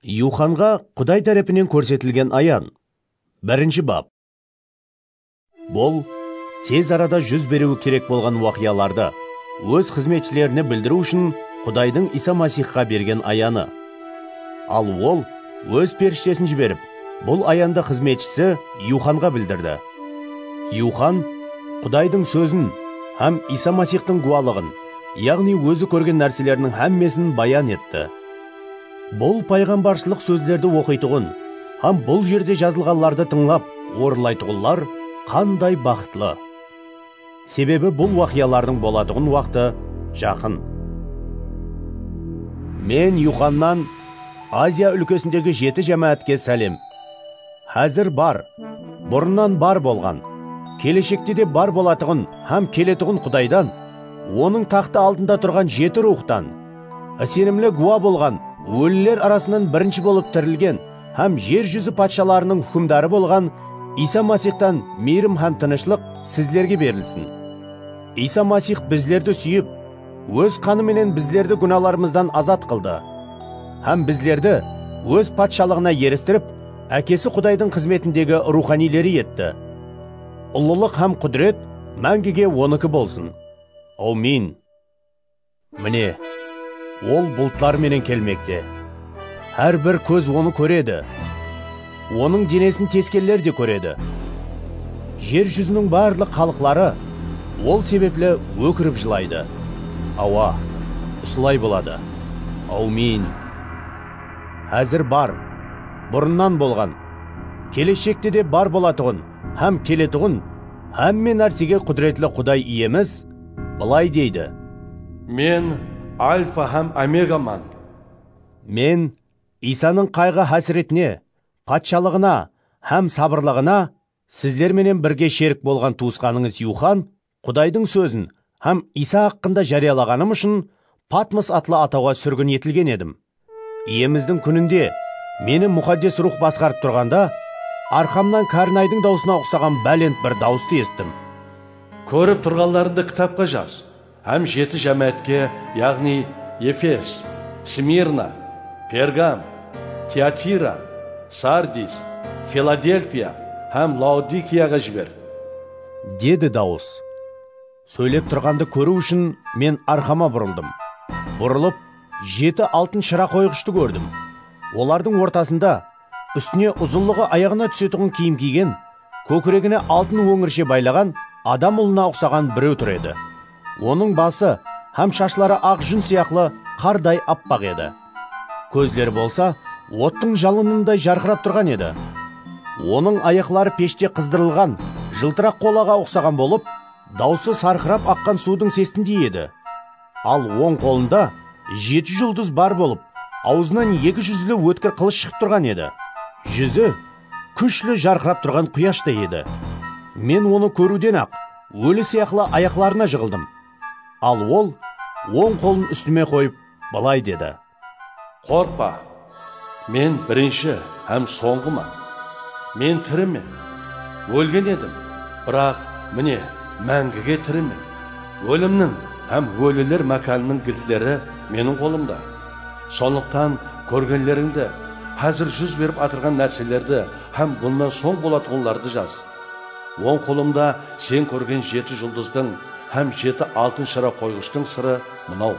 Yuxanǵa Quday tárepinen kórsetilgen ayan. Birinshi bap. Bul tez arada júz beriwi kerek bolǵan waqıyalardı Óz xızmetshilerine bildiriw ushın Qudaydıń Iysa Masixqa bergen ayanı. Al Ol Óz perishtesin jiberip, bul ayandı xızmetshisi Yuxanǵa bildirdi. Yuxan Qudaydıń Sózin hám Iysa Masixtıń gúwalıǵın, yaǵnıy ózi kórgen nárseleriniń hámmesin bayan etti. Bul payǵambarshılıq sózlerdi oqıytuǵın hám bul jerde jazılǵanlardı tıńlap orınlaytuǵınlar qanday baxıtlı! Sebebi bul waqıyalardıń bolatuǵın waqtı jaqın. Men Yuxannan Aziya úlkesindegi jeti jámáátke sálem. Házir bar, burınnan bar bolǵan, keleshekte de bar bolatuǵın hám keletuǵın Qudaydan, Onıń taxtı aldında turǵan jeti ruwxtan, isenimli gúwa bolǵan óliler arasınan birinshi bolıp tirilgen hám jer júzi patshalarınıń húkimdarı bolǵan Iysa Masixtan miyrim hám tınıshlıq sizlerge berilsin. Iysa Masix bizlerdi súyip, Óz qanı menen bizlerdi gúnalarımızdan azat qıldı hám bizlerdi Óz patshalıǵına eristirip, Ákesi Qudaydıń xızmetindegi ruwxaniyleri etti. Ullılıq hám qúdiret máńgige Onıki bolsın. Awmin! Mine, Ol bultlar menen kelmekte. Hár bir kóz Onı kóredi. Onıń denesin teskeller de kóredi. Jer júziniń barlıq xalıqları ol sebepli ókirip jılaydı. Awa, usılay boladı. Áwmiyin! Házir bar, burınnan bolǵan, keleshekte de bar bolatuǵın hám keletuǵın hámme nársege Qúdiretli Quday Iyemiz bılay deydi. Men Alfa hám Omegaman. Men Iysanıń qayǵı-hásiretine, patshalıǵına hám sabırlıǵına sizler menen birge sherik bolǵan tuwısqanıńız Yuxan Qudaydıń sózin hám Iysa haqqında járiyalaǵanım ushın Patmos atlı atawǵa súrgin etilgen edim. Iyemizdiń kúninde meni Muxaddes Ruwx basqarıp turǵanda, arqamnan kárnaydıń dawısına uqsaǵan bálent bir dawıstı esittim. Kórip turǵanlarıńdı kitapqa jaz. Hám jeti jámáátke, yaǵnıy, Efes, Smirna, Pergam, Tiatira, Sardis, Filadelfiya hám Laodikiyaǵa jiber. Dedi dawıs. Sóylep turǵandı kóriw ushın men arqama burıldım. Burılıp, jeti altın shıra qoyǵıshtı kórdim. Olardıń ortasında Ústine uzınlıǵı ayaǵına túsetuǵın kiyim kiygen, kókiregine altın óńirshe baylaǵan adam ulına uqsaǵan bireu tur edi. Onıń bası hám shashları aq jún sıyaqlı qarday appaq edi. Kózleri bolsa ottıń jalınınday jarqırap turǵan edi. Onıń ayaqları peshte qızdırılǵan jıltıraq qolaǵa uqsaǵan bolıp, dausı sarqırap aqqan suudıń sesindey edi. Al oń qolında jeti juldız bar bolıp, awzınan eki júzli ótkir qılısh shıǵıp turǵan edi. Júzi kúshli jarqırap turǵan quyashtay edi. Men onı kóriwden-aq, óli sıyaqlı ayaqlarına jıǵıldım. Al ol oń qolın ústime qoyıp, bılay dedi. Qorqpa! Men birinshi hám sońǵıman. Men tirimen. Ólgen edim, biraq, mine, máńgige tirimen. Ólimniń hám óliler mákanınıń giltleri meniń qolımda. Sonlıqtan kórgenlerińdi, házir júz berip atırǵan nárselerdi hám bunnan soń bolatuǵınlardı jaz. Oń qolımda sen kórgen jeti juldızdıń hám jeti altın shıra qoyǵıshtıń sırı mınaw.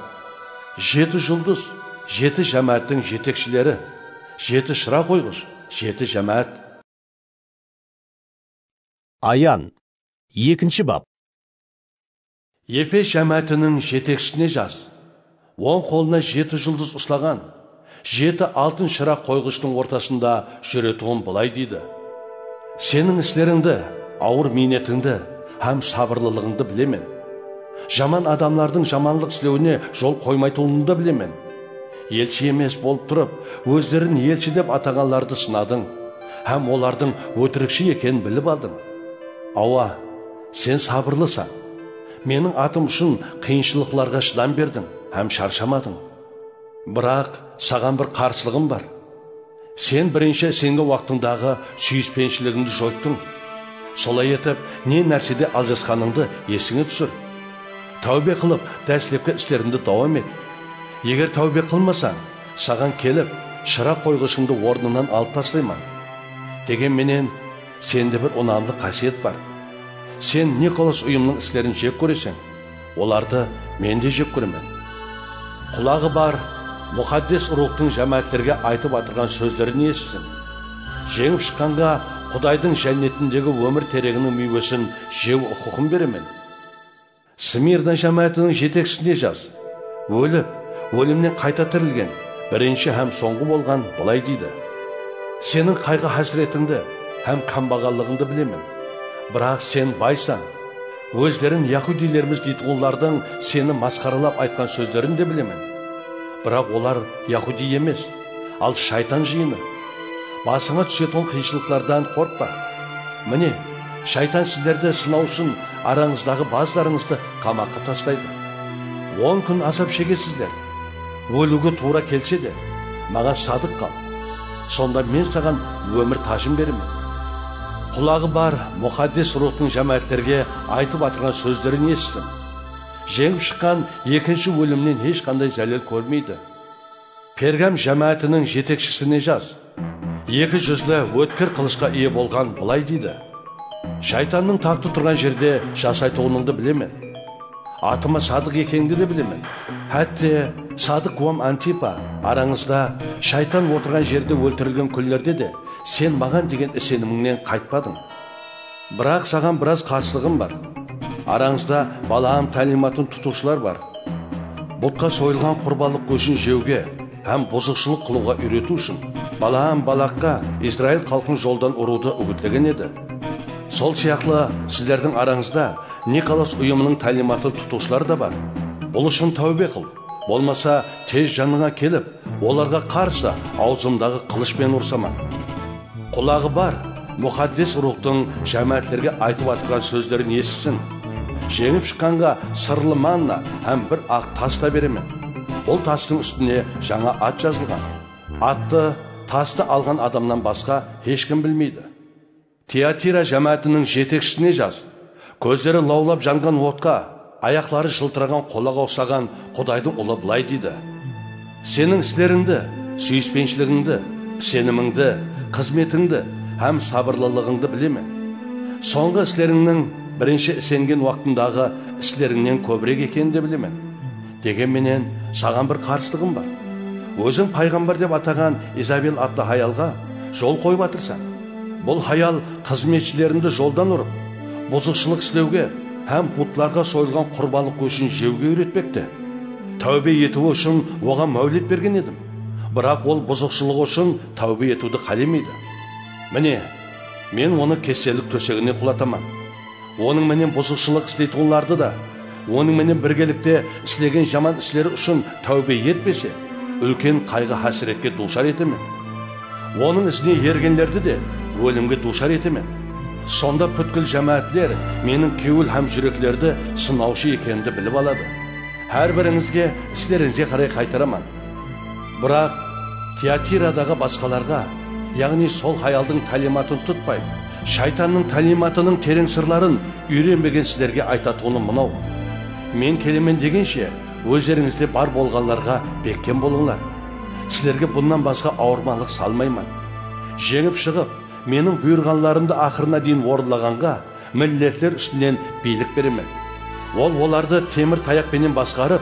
Jeti juldız, jeti jámááttiń jetekshileri, jeti shıra qoyǵısh, jeti jámáát. Ayan, ekinshi bap. Efes jámáátiniń jetekshisine jaz. Oń qolına jeti juldız uslaǵan. Jeti altın shıraq qoyǵıshtıń ortasında júretuǵın bılay deydi, Seniń islerińdi, awır miynetińdi hám sabırlılıǵıńdı bilemen. Jaman adamlardıń jamanlıq islewine jol qoymaytuǵınıńdı da bilemen. Elshi emes bolıp turıp, ózlerin elshi dep ataǵanlardı sınadıń hám olardıń ótirikshi ekenin bilip aldıń. Awa, sen sabırlısań. Meniń atım ushın qıyınshılıqlarǵa shıdam berdiń hám sharshamadıń. Biraq, saǵan bir qarsılıǵım bar. Sen birinshi sengi waqtıńdaǵı súyispenshiligimdi joyttıń. Solay etip, ne nársede aljasqanıńdı esińe túsir. Táwbe qılıp, dáslepki islerimdi dawam et. Eger táwbe qılmasań, saǵan kelip, shıraq qoyǵıshıńdı ornınan alıp taslayman. Degen menen, sende bir unamlı qásiyet bar. Sen Nikolas uyımnıń islerin jek kóreseń. Olardı men de jek kóremen. Qulaǵı bar Muxaddes Ruwxtıń jámáátlerge aytıp atırǵan sózlerin esitsin. Jeńip shıqqanǵa Qudaydıń Jánnetindegi ómir tereginiń miywesin jew uqıqın beremen. Smirna jámáátiniń jetekshisine jaz, Ólip, ólimnen qayta tirilgen, birinshi hám sońǵı bolǵan bılay deydi, Seniń qayǵı-hásiretińdi hám kámbaǵallıǵıńdı bilemen, biraq sen baysań. Ózleriń yahudiylermiz deytuǵınlardıń seni masqaralap aytqan sózlerin de bilemen. Biraq olar yahudiy emes, al shaytan jıyını. Basıńa túsetuǵın qıyınshılıqlardan qorqpa. Mine, shaytan sizlerdi sınaw ushın arańızdaǵı bazılarıńızdı qamaqqa taslaydı. On kún azap shegesizler. Óliwge tuwra kelse de, maǵan sadıq qal, sonda men saǵan ómir tajın beremen. Qulaǵı bar Muxaddes Ruwxtıń jámáátlerge aytıp atırǵan sózlerin esitsin. Jeńip shıqqan ekinshi ólimnen hesh qanday zálel kórmeydi. Pergam jámáátiniń jetekshisine jaz. Eki júzli, ótkir qılıshqa iye bolǵan bılay deydi, Shaytannıń taxtı turǵan jerde jasaytuǵınıńdı bilemen. Atımı Sadıq ekeńdi de bilemen. Hátte, Sadıq wam Antipa, arańızda, Shaytan otırǵan jerde óltirilgen kúnlerde de, sen maǵan degen isenimińnen qaytpadıń. Biraq saǵan biraz qarsılıǵım bar. Arańızda Balaam tálimatın tutıwshılar bar. Butqa soyılǵan qurbanlıq góshin jewge hám buzıqshılıq qılıwǵa úyretiw ushın Balaam Balaqqa Izrail xalqın joldan urıwdı úgitlegen edi. Sol sıyaqlı sizlerdiń arańızda Nikolas uyımınıń tálimatın tutıwshılar da bar. Bul ushın táwbe qıl. Bolmasa, tez janıńa kelip, olarǵa qarsı awzımdaǵı qılıshpen ursaman. Qulaǵı bar, Muxaddes Ruwxtıń jámáátlerge aytıp atırǵan sózlerin esitsin. Jeńip shıqqanǵa sırlı manna hám bir aq tas ta beremen. Bul tastıń ústine jańa at jazılǵan. Attı, tastı alǵan adamnan basqa hesh kim bilmeydi. Tiatira jámáátiniń jetekshisine jas, kózleri lawlap janǵan otqa, ayaqları jıltıraǵan qolaǵa uqsaǵan Qudaydıń Ulı bılay deydi, Seniń islerińdi, súyispenshiligindi, isenimińdi, xızmetińdi hám sabırlılıǵıńdı bilemen. Sońǵı islerińniń birinshi isengen waqtındaǵı islerińnen kóbirek ekenin de bilemen. Degen menen, saǵan bir qarsılıǵım bar. Óziń payǵambar dep ataǵan Izabel atlı hayalǵa jol qoyıp atırsań. Bul hayal xızmetshilerindi joldan urıp, buzıqshılıq islewge hám butlarǵa soyılǵan qurbanlıq góshin jewge úyretpekte. Táwbe etiwi ushın oǵan máwlet bergen edim, biraq ol buzıqshılıǵı ushın táwbe etiwdi qálemeydi. Mine, men onı kesellik tósegine qulataman. Onıń menen buzıqshılıq isleytuǵınlardı da, onıń menen birgelikte islegen jaman isleri ushın táwbe etpese, úlken qayǵı-hásiretke duwshar etemen. Onıń izine ergenlerdi de ólimge duwshar etemen. Sonda pútkil jámáátler Meniń kewil hám júreklerdi sınawshı ekenimdi bilip aladı. Hár birińizge islereńizge qaray qaytaraman. Biraq, Tiyatiradıǵı basqalarǵa, yaǵnıy sol hayaldıń tálimatın tutpay, Shaytannıń tálimatınıń tereń sırların úyrenbegen sizlerge aytatuǵınım mınaw, Men kelemen degenshe, ózlerińizde bar bolǵanlarǵa bekkem bolıńlar. Sizlerge bunnan basqa awırmanlıq salmayman. Jeńip shıǵıp, Meniń buyırǵanlarımdı aqırına deyin orınlaǵanǵa, milletler ústinen biylik beremen. Ol olardı temir tayaq penen basqarıp,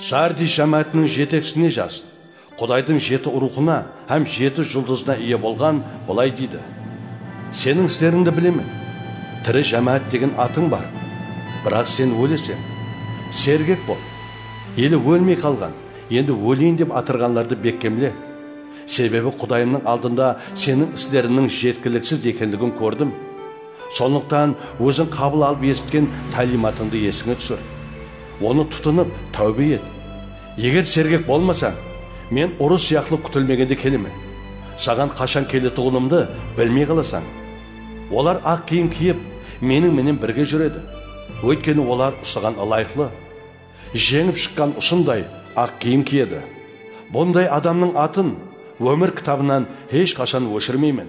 Sardiy jámáátiniń jeteksine jazd, Qudaydıń jeti ruwxına hám jeti juldızına iye bolǵan bılay deydi, Seniń islerińdi bilemen, tiri jámáát degen atıń bar, biraq sen óleseń. Sergek bol, ele ólmey qalǵan, endi óleyin dep atırǵanlardı bekkemle, sebebi Qudayımnıń aldında seniń isleriniń jetkiliksiz ekenligin kórdim. Sonlıqtan óziń qabıl alıp esitken táliymatıńdı esińe túsir. Onı tutınıp, táwbe et. Eger sergek bolmasań, Men urı sıyaqlı kútilmegende kelemen. Saǵan qashan keletuǵınımdı bilmey qalasań. Olar aq kiyim kiyip, Meniń menen birge júredi. Óytkeni olar usıǵan ılayıqlı. Jeńip shıqqan usınday aq kiyim kiyedi. Bunday adamnıń atın Ómir kitabınan hesh qashan óshirmeymen.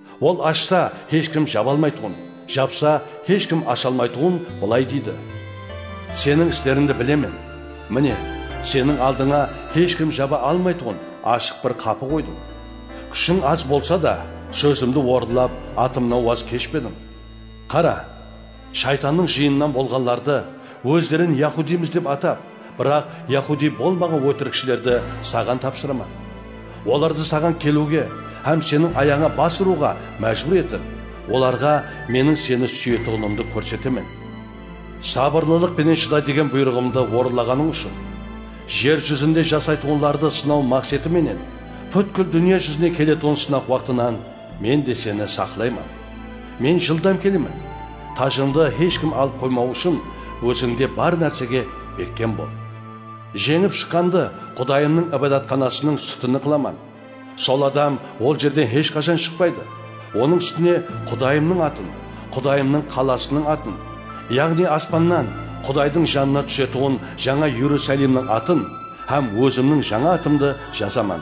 Ol ashsa, hesh kim jaba almaytuǵın, japsa, hesh kim asha almaytuǵın bılay deydi, Seniń islerińdi bilemen. Mine, seniń aldıńa hesh kim jaba almaytuǵın ashıq bir qapı qoydım. Kúshiń az bolsa da, sózimdi orınlap, atımnan waz keshpediń. Qara! Shaytannıń jıyınınan bolǵanlardı, ózlerin yahudiymız dep atap, biraq yahudiy bolmaǵan ótirikshilerdi saǵan tapsıraman. Olardı saǵan keliwge hám seniń ayaǵıńa bas urıwǵa májbúr etip, olarǵa Meniń seni súyetuǵınımdı kórsetemen. Sabırlılıq penen shıda degen buyrıǵımdı orınlaǵanıń ushın, jer júzinde jasaytuǵınlardı sınaw maqseti menen, pútkil dúnya júzine keletuǵın sınaq waqtınan Men de seni saqlayman. Men jıldam kelemen. Tajındı hesh kim alıp qoymawı ushın ózińde bar nársege bekkem bol. Jeńip shıqqandı Qudayımnıń Ibadatxanasınıń sútini qılaman. Sol adam ol jerden hesh qashan shıqpaydı. Onıń sútine Qudayımnıń atın, Qudayımnıń qalasınıń atın, yaǵnıy aspannan Qudaydıń janına túsetuǵın jańa Erusalimniń atın hám ózimniń jańa atımdı jazaman.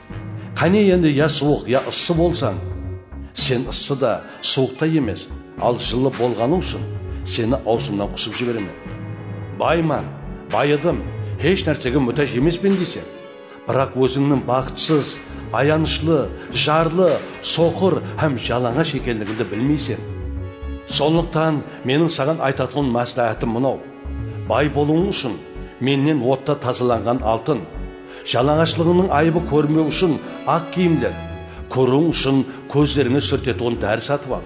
Qáne endi ya suwıq ya ıssı bolsań, sen ıssı da, suwıq ta emes, al jıllı bolǵanıń ushın seni awzımnan qusıp jiberemen. Bayman, bayıdım, hesh nársege mútáj emespen deyseń, biraq ózińniń baxıtsız, ayanıshlı, jarlı, soqır hám jalańash ekenligińdi bilmeyseń. Sonlıqtan meniń saǵan aytatuǵın másláhátim mınaw, bay bolıwıń ushın mennen otta tazalanǵan altın, Jalańashlıǵıńnıń ayıbı kórinbew ushın aq kiyimler, kóriwiń ushın kózlerińe súrtetuǵın dári satıp al.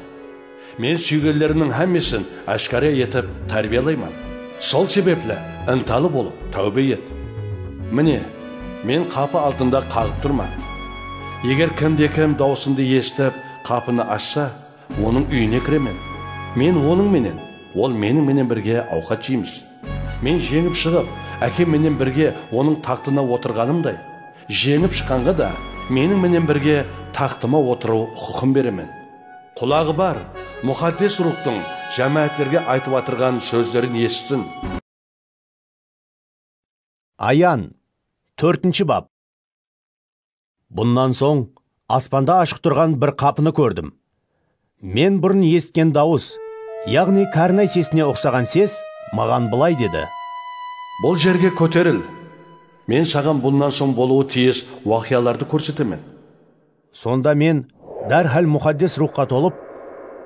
Men súygenlerimniń hámmesin áshkara etip tárbiyalayman. Sol sebepli ıntalı bolıp, táwbe et. Mine, Men qapı aldında qaǵıp turman. Eger kimde-kim dawısımdı esitip, qapını ashsa, Onıń úyine kiremen. Men onıń menen, ol meniń menen birge awqat jeymiz. Men jeńip shıǵıp, Ákem menen birge Onıń taxtına otırǵanımday, jeńip shıqqanǵa da meniń menen birge taxtıma otırıw huqıqın beremen. Qulaǵı bar, Muxaddes Ruwxtıń jámáátlerge aytıp atırǵan sózlerin esitsin! Ayan, tórtinshi bap. Bunnan soń aspanda ashıq turǵan bir qapını kórdim. Men burın esitken dawıs, yaǵnıy kárnay sesine uqsaǵan ses maǵan bılay dedi. Bul jerge kóteril! Men saǵan bunnan soń bolıwı tiyis waqıyalardı kórsetemen. Sonda men dárhál Muxaddes Ruwxqa tolıp,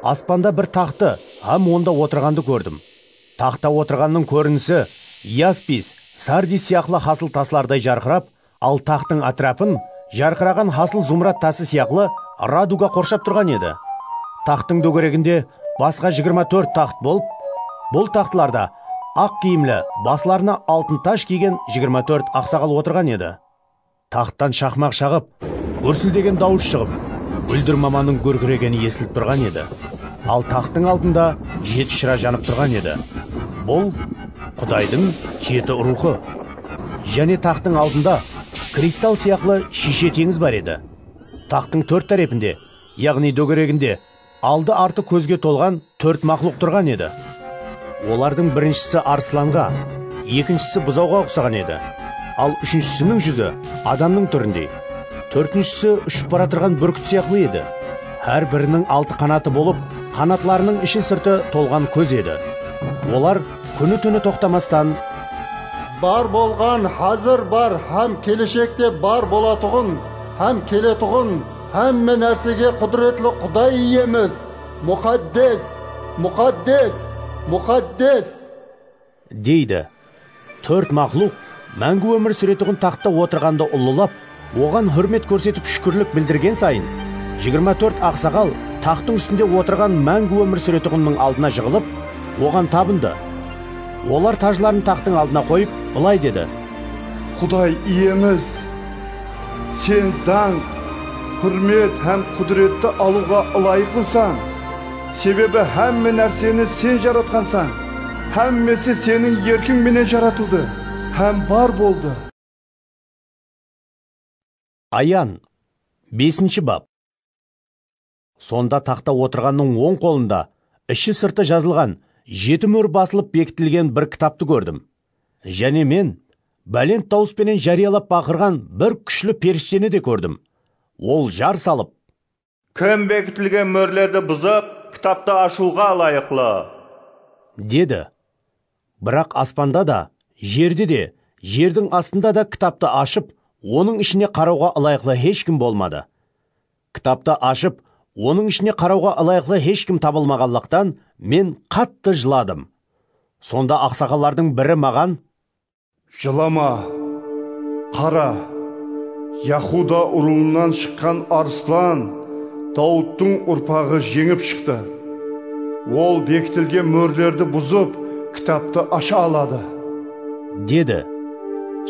aspanda bir taxtı hám onda otırǵandı kórdim. Taxtta otırǵannıń kórinisi yaspis, sardis sıyaqlı hasıl taslarday jarqırap, al taxtıń átirapın jarqıraǵan hasıl zumrad tası sıyaqlı raduga qorshap turǵan edi. Taxtıń dógereginde basqa jigirma tórt taxt bolıp, bul taxtlarda aq kiyimli, baslarına altın taj kiygen jigirma tórt aqsaǵal otırǵan edi. Taxttan shaqmaq shaǵıp, gúrsildegen dawıs shıǵıp, gúldir mamanıń gúrkiregeni esilip turǵan edi. Al taxtıń aldında jeti shıra janıp turǵan edi. Bul, Qudaydıń jeti ruwxı. Jáne taxtıń aldında kristal sıyaqlı shiyshe teńiz bar edi. Taxtıń tórt tárepinde, yaǵnıy dógereginde, Aldı-artı kózge tolǵan tórt maqluq turǵan edi. Olardıń birinshisi arıslanǵa, ekinshisi buzawǵa uqsaǵan edi, al úshinshisiniń júzi adamnıń túrindey, tórtinshisi ushıp baratırǵan búrkit sıyaqlı edi. Hár biriniń altı qanatı bolıp, qanatlarınıń ishi-sırtı tolǵan kóz edi. Olar kúni-túni toqtamastan. Bar bolǵan, házir bar hám keleshekte bar bolatuǵın hám keletuǵın Hámme nársege Qúdiretli Quday Iyemiz, Muxaddes! Muxaddes! Muxaddes! Deydi. Tórt maqluq, máńgi ómir súretuǵın taxtta otırǵandı ullılap, Oǵan húrmet kórsetip shúkirlik bildirgen sayın, jigirma tórt aqsaǵal taxtıń ústinde otırǵan máńgi ómir súretuǵınnıń aldına jıǵılıp, Oǵan tabındı. Olar tajların taxtıń aldına qoyıp, bılay dedi. Quday Iyemiz, Sen dańq, húrmet hám qúdiretti alıwǵa ılayıqlısań, sebebi hámme nárseni Sen jaratqansań, hámmesi Seniń erkiń menen jaratıldı hám bar boldı. Ayan, besinshi bap. Sonda taxta otırǵannıń oń qolında ishi-sırtı jazılǵan, jeti mór basılıp bekitilgen bir kitaptı kórdim. Jáne men bálent dawıs penen járiyalap baqırǵan bir kúshli perishteni de kórdim. Ol jar salıp. Kim bekitilgen mórlerdi buzıp, kitaptı ashıwǵa ılayıqlı? Dedi. Biraq aspanda da, jerde de, jerdiń astında da kitaptı ashıp, onıń ishine qarawǵa ılayıqlı hesh kim bolmadı. Kitaptı ashıp, onıń ishine qarawǵa ılayıqlı hesh kim tabılmaǵanlıqtan men qattı jıladım. Sonda aqsaqallardıń biri maǵan. Jılama, qara, Yahuda urıuınan shıqqan Arıslan Dawıttıń urpaǵı jeńip shıqtı. Ol bekitilgen mórlerdi buzıp, kitaptı asha aladı. Dedi.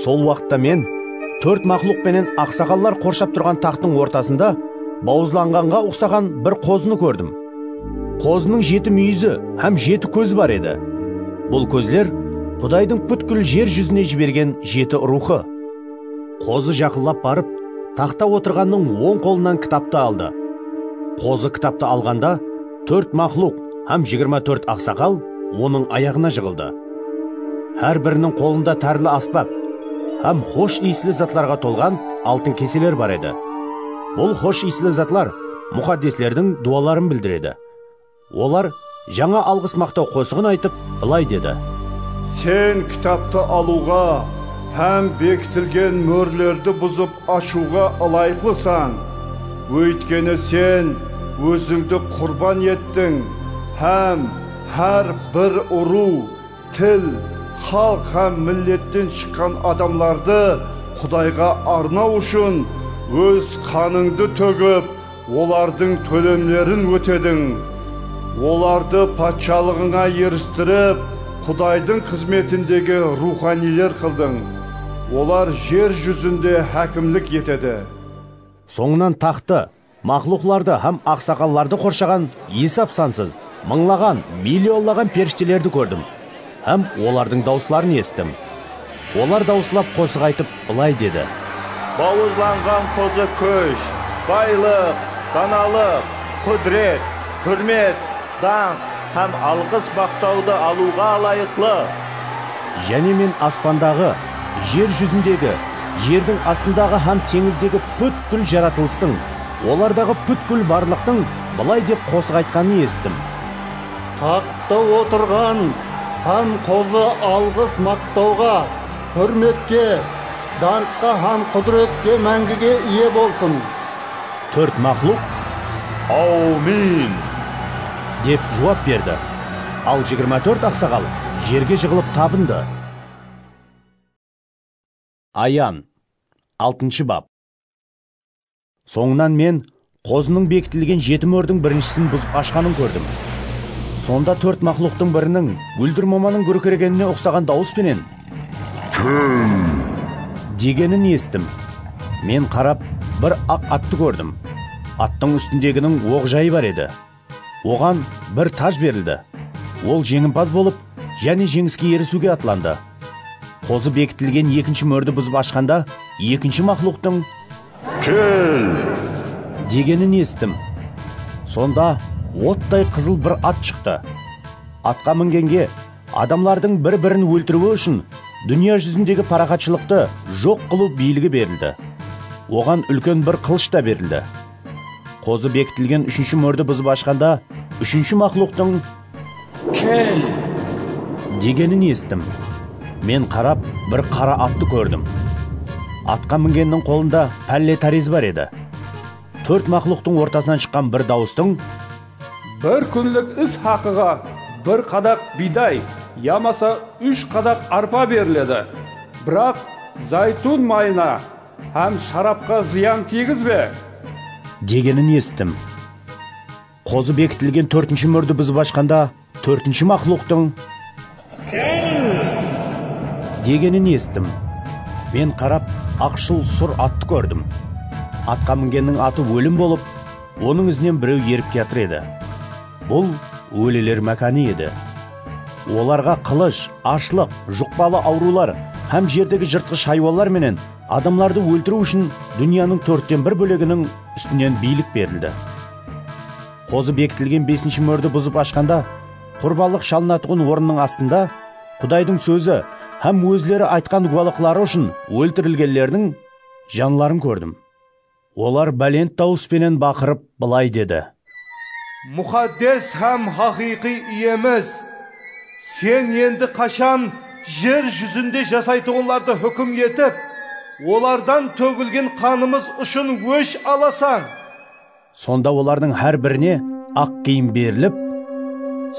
Sol waqıtta Men tórt maqluq penen aqsaqallar qorshap turǵan taxtıń ortasında bawızlanǵanǵa uqsaǵan bir qozını kórdim. Qozınıń jeti múyizi hám jeti kózi bar edi. Bul kózler Qudaydıń pútkil jer júzine jibergen jeti ruwxı. Qozı jaqınlap barıp, taxta otırǵannıń oń qolınan kitaptı aldı. Qozı kitaptı alǵanda, Tórt maqluq hám jigirma tórt aqsaqal Onıń ayaǵına jıǵıldı. Hár biriniń qolında tárli asbap hám xosh iyisli zatlarǵa tolǵan altın keseler bar edi. Bul xosh iyisli zatlar muxaddeslerdiń duwaların bildiredi. Olar jańa alǵıs-maqtaw qosıǵın aytıp, bılay dedi. Sen kitaptı alıwǵa hám bekitilgen mórlerdi buzıp Ashıwǵa ılayıqlısań, óytkeni sen ózińdi qurban ettiń hám hár bir urıw, til, xalıq hám milletten shıqqan adamlardı Qudayǵa arnaw ushın óz qanıńdı tógip, Olardıń tólemlerin ótediń. Olardı patshalıǵıńa eristirip, Qudaydıń xızmetindegi ruwxaniyler qıldıń. Olar jer júzinde hákimlik etedi. Sońınan taxtı, maqluqlardı hám aqsaqallardı qorshaǵan esap-sansız, mıńlaǵan, millionlaǵan perishtelerdi kórdim. Hám olardıń dawısların esittim. Olar dawıslap qosıq aytıp, bılay dedi. Bawırlanǵan qozı kúsh, baylıq, danalıq, qúdiret, húrmet, dańq hám alǵıs-maqtawdı alıwǵa ılayıqlı. Jáne men aspandaǵı, jer júzindegi, jerdiń astındaǵı hám teńizdegi pútkil jaratılıstıń, olardaǵı pútkil barlıqtıń bılay dep qosıq aytqanın esittim. Taxtta otırǵan hám qozı alǵıs maqtawǵa, húrmetke, dańqqa hám qúdiretke máńgige iye bolsın! Tórt maqluq, Áwmin! Dep juwap berdi. Al jigirma tórt aqsaǵal jerge jıǵılıp tabındı. Ayan, altınshı bap. Sońınan men qozınıń bekitilgen jeti mórdiń birinshisin buzıp ashqanın kórdim. Sonda tórt maqluqtıń biriniń gúldir momanıń gúrkiregenine uqsaǵan dawıs penen, Kel! degenin esittim. Men qarap, bir aq attı kórdim. Attıń ústindeginiń oq jayı bar edi. Oǵan bir taj berildi. Ol jeńimpaz bolıp, jáne jeńiske erisiwge atlandı. Qozı bekitilgen ekinshi mórdi buzıp ashqanda, ekinshi maqluqtıń, Kel! degenin esittim. Sonda ottay qızıl bir at shıqtı. Atqa mingenge, adamlardıń bir-birin óltiriwi ushın dúnya júzindegi paraxatshılıqtı joq qılıw biyligi berildi. Oǵan úlken bir qılısh ta berildi. Qozı bekitilgen úshinshi mórdi buzıp ashqanda, úshinshi maqluqtıń, Kel! degenin esittim. Men qarap, bir qara attı kórdim. Atqa mingenniń qolında pálle tárezi bar edi. Tórt maqluqtıń ortasınan shıqqan bir dawıstıń, Bir kúnlik is haqıǵa bir qadaq biyday yamasa úsh qadaq arpa beriledi. Biraq, zaytun mayına Hám sharapqa zıyan tiygizbe! Degenin esittim. Qozı bekitilgen tórtinshi múrdi buzıp ashqanda tórtinshi maqluqtıń. Kel! Degenin esittim. Men qarap, aqshıl sur attı kórdim. Atqa mingenniń atı Ólim bolıp, onıń izinen bireu erip kiyatır edi. Bul Óliler mákanı edi. Olarǵa qılısh, ashlıq, juqpalı awrıwlar hám jerdegi jırtqısh haywanlar menen adamlardı óltiriw ushın dúnyanıń tórtten bir bóleginiń ústinen biylik berildi. Qozı bekitilgen besinshi mórdi buzıp ashqanda, qurbanlıq shalınatuǵın orınnıń astında Qudaydıń sózi hám ózleri aytqan gúwalıqları ushın óltirilgenlerdiń janların kórdim. Olar bálent dawıs penen baqırıp, bılay dedi. Muxaddes hám haqıyqıy Iyemiz, Sen endi qashan jer júzinde jasaytuǵınlardı húkim etip, olardan tógilgen qanımız ushın ósh alasań? Sonda olardıń hár birine aq kiyim berilip.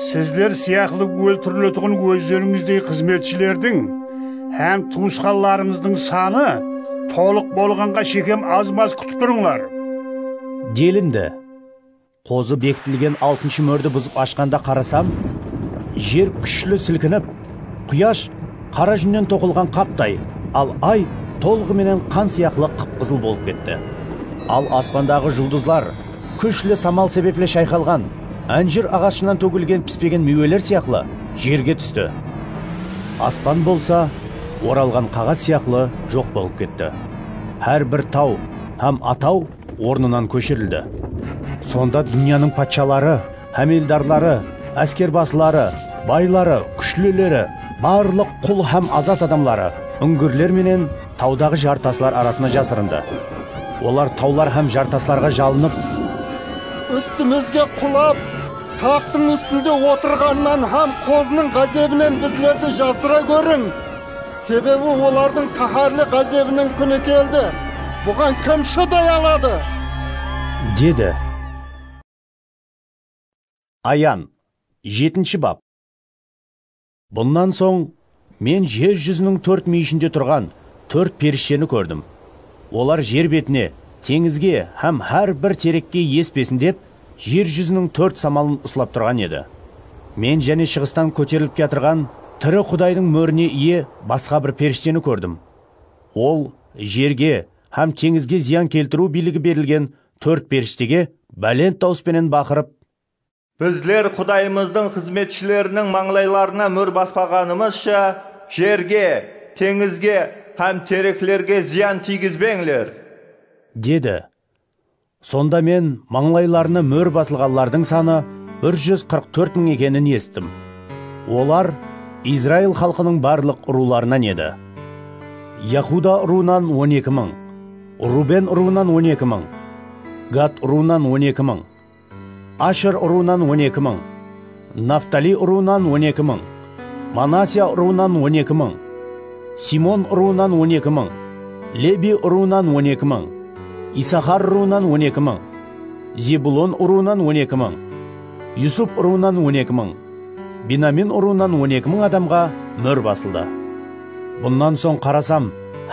Sizler sıyaqlı óltiriletuǵın ózlerińizdey xızmetshilerdiń hám tuwısqanlarıńızdıń sanı tolıq bolǵanǵa shekem az-maz kútip turıńlar. Delindi. Qozı bekitilgen altınshı mórdi buzıp ashqanda qarasam, jer kúshli silkinip, quyash qara júnnen toqılǵan qaptay, al ay tolǵı menen qan sıyaqlı qıp-qızıl bolıp ketti. Al aspandaǵı juldızlar. Kúshli samal sebepli shayqalǵan ánjir aǵashınan tógilgen pispegen miyweler sıyaqlı jerge tústi. Aspan bolsa oralǵan qaǵaz sıyaqlı joq bolıp ketti. Hár bir taw hám ataw ornınan kóshirildi. Sonda dúnyanıń patshaları. Hámeldarları, áskerbasıları, bayları, kúshlileri, barlıq qul hám azat adamları úngirler menen tawdaǵı jartaslar arasına jasırındı. Olar tawlar hám jartaslarǵa jalınıp. Ústimizge qulap, taxtıń ústinde otırǵanınan hám Qozınıń ǵázebinen bizlerdi jasıra góriń! Sebebi olardıń qáhárli ǵázebiniń kúni keldi, buǵan kim shıday aladı? Dedi. Ayan, jetinshi bap. Bunnan soń Men jer júziniń tórt múyishinde turǵan tórt perishteni kórdim. Olar jer betine, teńizge hám hár bir terekke espesin dep, jer júziniń tórt samalın uslap turǵan edi. Men jáne shıǵıstan kóterilip kiyatırǵan tiri Qudaydıń mórine iye basqa bir perishteni kórdim. Ol jerge hám teńizge zıyan keltiriw biyligi berilgen tórt perishtege bálent dawıs penen baqırıp. Bizler Qudayımızdıń xızmetshileriniń mańlaylarına múr baspaǵanımızsha, jerge, teńizge hám tereklerge zıyan tiygizbeńler! Dedi. Sonda men mańlaylarına múr basılǵanlardıń sanı bir júz qırq tórt mıń ekenin esittim. Olar Izrail xalqınıń barlıq urıwlarınan edi. Yahuda urıwınan on eki mıń. Ruben urıwınan on eki mıń, Gad urıwınan on eki mıń, Asher urıwınan on eki mıń, Naftaliy urıwınan on eki mıń, Manasya urıwınan on eki mıń, Simeon urıwınan on eki mıń, Lebiy urıwınan on eki mıń, Isahar urıwınan on eki mıń, Zebulon urıwınan on eki mıń, Yusup urıwınan on eki mıń, Benamin urıwınan on eki mıń adamǵa mór basıldı. Bunnan soń qarasam,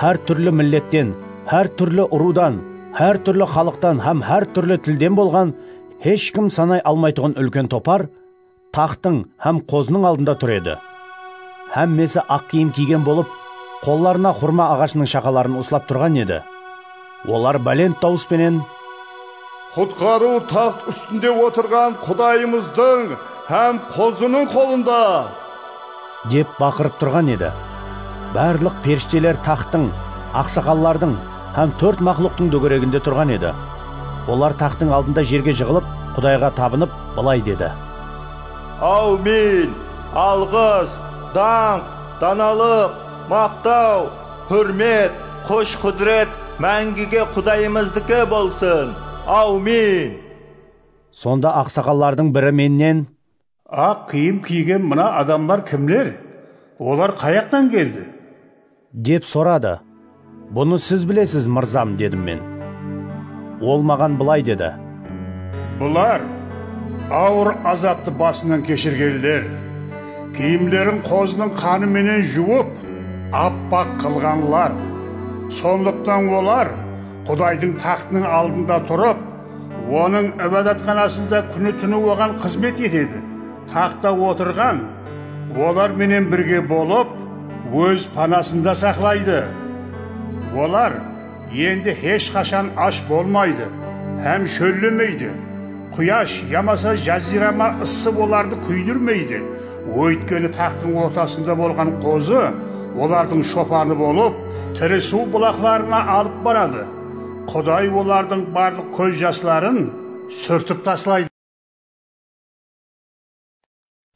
hár túrli milletten, hár túrli urıwdan, hár túrli xalıqtan hám hár túrli tilden bolǵan hesh kim sanay almaytuǵın úlken topar taxtıń hám qozınıń aldında tur edi. Hámmesi aq kiyim kiygen bolıp, qollarına xurma aǵashınıń shaqaların uslap turǵan edi. Olar bálent dawıs penen. Qutqarıw taxt ústinde otırǵan Qudayımızdıń hám Qozınıń qolında! Dep baqırıp turǵan edi. Barlıq perishteler taxttıń, aqsaqallardıń hám tórt maqluqtıń dógereginde turǵan edi. Olar taxttıń aldında jerge jıǵılıp, Qudayǵa tabınıp, bılay dedi. Áwmin! Alǵıs, dańq, danalıq, maqtaw, Húrmet, kush-qúdiret máńgige Qudayımızdiki bolsın! Awmin! Sonda aqsaqallardıń biri mennen. Aq kiyim kiygen mına adamlar kimler? Olar qayaqtan keldi? Dep soradı. Bunı siz bilesiz, mırzam, dedim men. Ol maǵan bılay dedi. Bular, awır azaptı basınan keshirgenler, kiyimlerin qozınıń qanı menen juwıp, appaq qılǵanlar. Sonlıqtan olar Qudaydıń taxtınıń aldında turıp, Onıń Ibadatxanasında kúni-túni Oǵan xızmet etedi. Taxtta otırǵan olar menen birge bolıp, Óz panasında saqlaydı. Olar. Endi hesh qashan ash bolmaydı hám shóllemeydi. Quyash yamasa jaziyrama ıssı olardı kúydirmeydi. Óytkeni taǵtıń ortasında bolǵan qozı olardıń shopanı bolıp, tiri suw bulaqlarına alıp baradı. Quday olardıń barlıq kóz jasların súrtip taslaydı.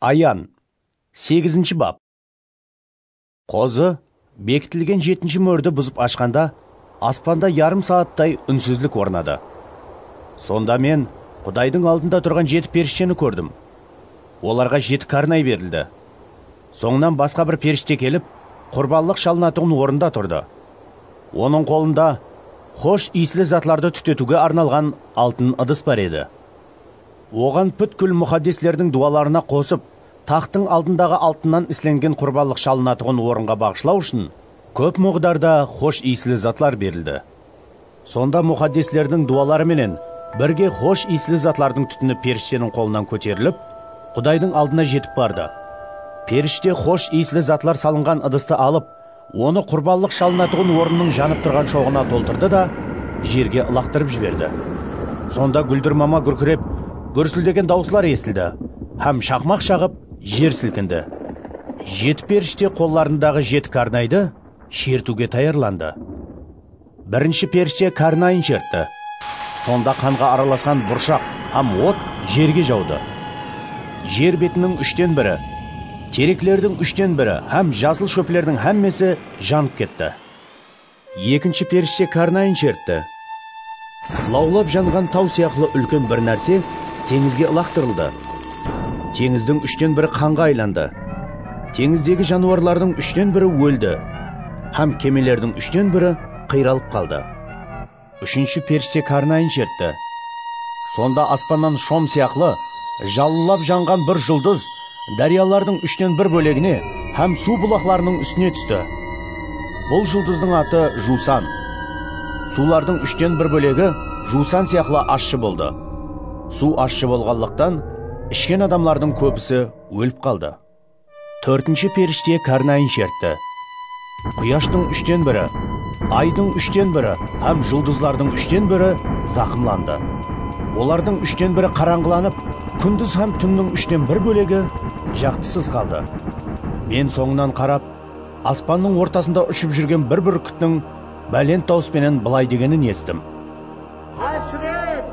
Ayan, segizinshi bap. Qozı, bekitilgen jetinshi mórdi buzıp ashqanda, aspanda yarım saattay únsizlik ornadı. Sonda men Qudaydıń aldında turǵan jeti perishteni kórdim. Olarǵa jeti kárnay berildi. Sońınan basqa bir perishte kelip, qurbanlıq shalınatuǵın orında turdı. Onıń qolında xosh iyisli zatlardı tútetiwge arnalǵan altın ıdıs bar edi. Oǵan pútkil muxaddeslerdiń duwalarına qosıp, Taxtıń aldındaǵı altınnan islengen qurbanlıq shalınatuǵın orınǵa baǵıshlaw ushın kóp muǵdarda xosh iyisli zatlar berildi. Sonda muxaddeslerdiń duwaları menen birge xosh iyisli zatlardıń tútini perishteniń qolınan kóterilip, Qudaydıń aldına jetip bardı. Perishte xosh iyisli zatlar salınǵan ıdısты alıp, Onı qurbanlıq shalınatuǵın orınnıń janıp turǵan shoǵına toltırdı da, jerge ılaqtırıp jiberdi. Sonda gúldirmama gúrkirep, gúrsildegen dawıslar esitildi hám shaqmaq shaǵıp, jer silkindi. Jeti perishte qollarındaǵı jeti karnaydı shertiwge tayarlandı. Birinshi perishte karnayın shertti. Sonda qanǵa aralasqan burshaq hám ot jerge jawdı. Jer betiniń úshten biri, tereklerdiń úshten biri hám jasıl shóplerdiń hámmesi janıp ketti. Ekinshi perishte karnayın shertti. Lawlap janǵan taw sıyaqlı úlken bir nárse teńizge ılaqtırıldı. Teńizdiń úshten biri qanǵa aylandı. Teńizdegi janıwarlardıń úshten biri óldi. Hám kemelerdiń úshten biri qıyralıp qaldı. Úshinshi perishte karnayın shertti. Sonda aspannan shom sıyaqlı jalınlap janǵan bir juldız dáryalardıń úshten bir bólegine hám suw bulaqlarınıń ústine tústi. Bul juldızdıń atı Juwsan. Suwlardıń úshten bir bólegi juwsan sıyaqlı ashshı boldı. Suw ashshı bolǵanlıqtan, ishken adamlardıń kóbisi ólip qaldı. Tórtinshi perishte kárnayin shertti. Quyashtıń úshten biri, Aydıń úshten biri hám juldızlardıń úshten biri zaqımlandı. Olardıń úshten biri qarańǵılanıp, kúndiz hám túnniń úshten bir bólegi jaqtısız qaldı. Men sońınan qarap, aspannıń ortasında ushıp júrgen bir búrkittiń bálent dawıs penen bılay degenin esittim. Hásiret!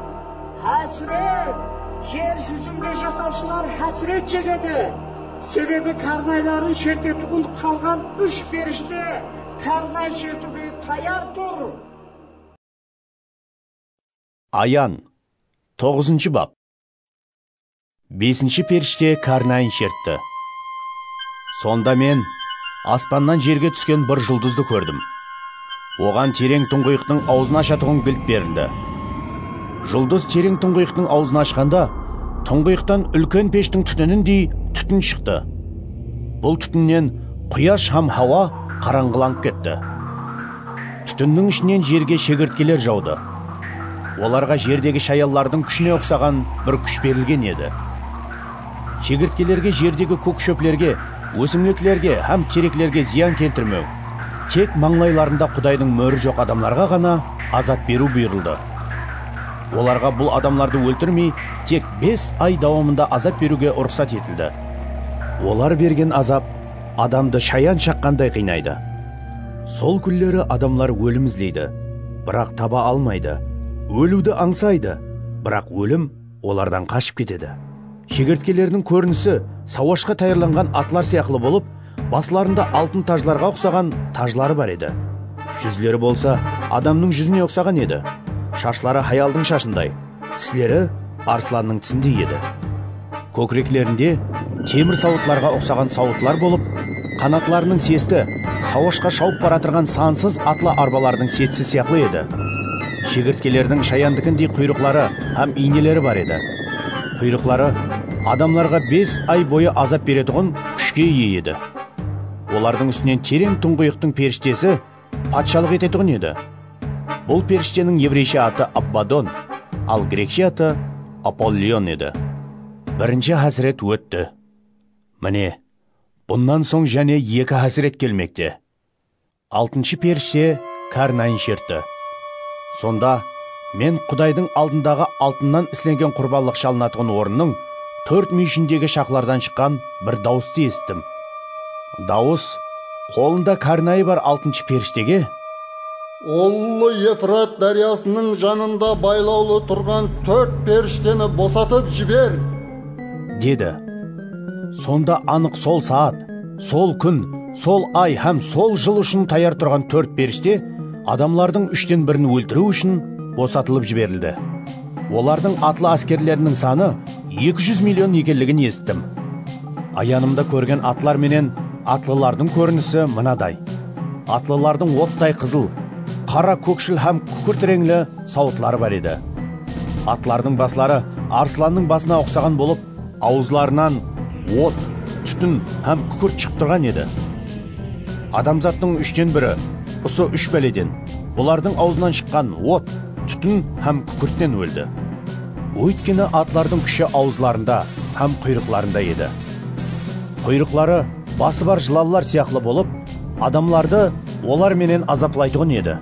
Hásiret! Jer júzinde jasawshılar hásiret shegedi, sebebi kárnayların shertetuǵın qalǵan úsh perishte kárnay shertiwge tayar tur. Ayan, toǵızınshı bap. Besinshi perishte kárnayin shertti. Sonda men aspannan jerge túsken bir juldızdı kórdim. Oǵan tereń tuńǵıyıqtıń awzın ashatuǵın gilt berildi. Juldız tereń tuńǵıyıqtıń awzın ashqanda, tuńǵıyıqtan úlken peshtiń tútinindey tútin shıqtı. Bul tútinnen quyash hám hawa qarańǵılanıp ketti. Tútinniń ishinen jerge shegirtkeler jawdı. Olarǵa jerdegi shayallardıń kúshine uqsaǵan bir kúsh berilgen edi. Shegirtkelerge jerdegi kók shóplerge, ósimliklerge hám tereklerge zıyan keltirmew, tek mańlaylarında Qudaydıń móri joq adamlarǵa ǵana azap beriw buyırıldı. Olarǵa bul adamlardı óltirmey, tek bes ay dawamında azap beriwge ruxsat etildi. Olar bergen azap adamdı shayan shaqqanday qıynaydı. Sol kúnleri adamlar ólim izleydi, biraq taba almaydı, óliwdi ańsaydı, biraq ólim olardan qashıp ketedi. Shegertkeleriniń kórinisi sawashqa tayarlanǵan atlar sıyaqlı bolıp, baslarında altın tajlarǵa uqsaǵan tajları bar edi. Júzleri bolsa adamnıń júzine uqsaǵan edi, shashları hayaldıń shashınday. Tisleri arslannıń tisindey edi. Kókireklerinde temir sawıtlarǵa uqsaǵan sawıtlar bolıp, qanatlarınıń sesti sawashqa shawıp baratırǵan sansız atlı arbalardıń sesi sıyaqlı edi. Shegirtkelerdiń shayandikindey quyrıqları hám iyneleri bar edi. Quyrıqları adamlarǵa bes ay boyı azap beretuǵın kúshke iye edi. Olardıń ústinen tereń tuńǵıyıqtıń perishtesi Patshalıq etetuǵın edi. Bul perishteniń evreyshe atı Abbadon, al grekshe atı Apollion edi. Birinshi hásiret ótti. Mine, bunnan soń jáne eki hásiret kelmekte. Altınshı perishte kárnayın shertti. Sonda. Men Qudaydıń aldındaǵı altınnan islengen qurbanlıq shalınatuǵın orınnıń tórt múyishindegi shaqlardan shıqqan bir dawıstı esittim. Dawıs, qolında kárnayı bar altınshı perishtege. Ullı Efrat dáryasınıń janında baylawlı turǵan tórt perishteni bosatıp jiber! Dedi. Sonda anıq sol saat, sol kún, sol ay hám sol jıl ushın tayar turǵan tórt perishte, Adamlardıń úshten birin óltiriw ushın bosatılıp jiberildi. Olardıń atlı áskerleriniń sanı eki júz million ekenligin esittim. Ayanımda kórgen atlar menen atlılardıń kórinisi mınaday, atlılardıń ottay qızıl, qara, kókshil hám kúkirt reńli sawıtları bar edi. Atlardıń basları arslannıń basına uqsaǵan bolıp, Awızlarınan ot, tútin hám kúkirt shıǵıp turǵan edi. Adamzattıń úshten biri usı úsh báleden, bulardıń awzınan shıqqan ot, tútin hám kúkirtten óldi. Óytkeni atlardıń kúshi awızlarında hám quyrıqlarında edi. Quyrıqları bası bar jılallar sıyaqlı bolıp, adamlardı olar menen azaplaytuǵın edi.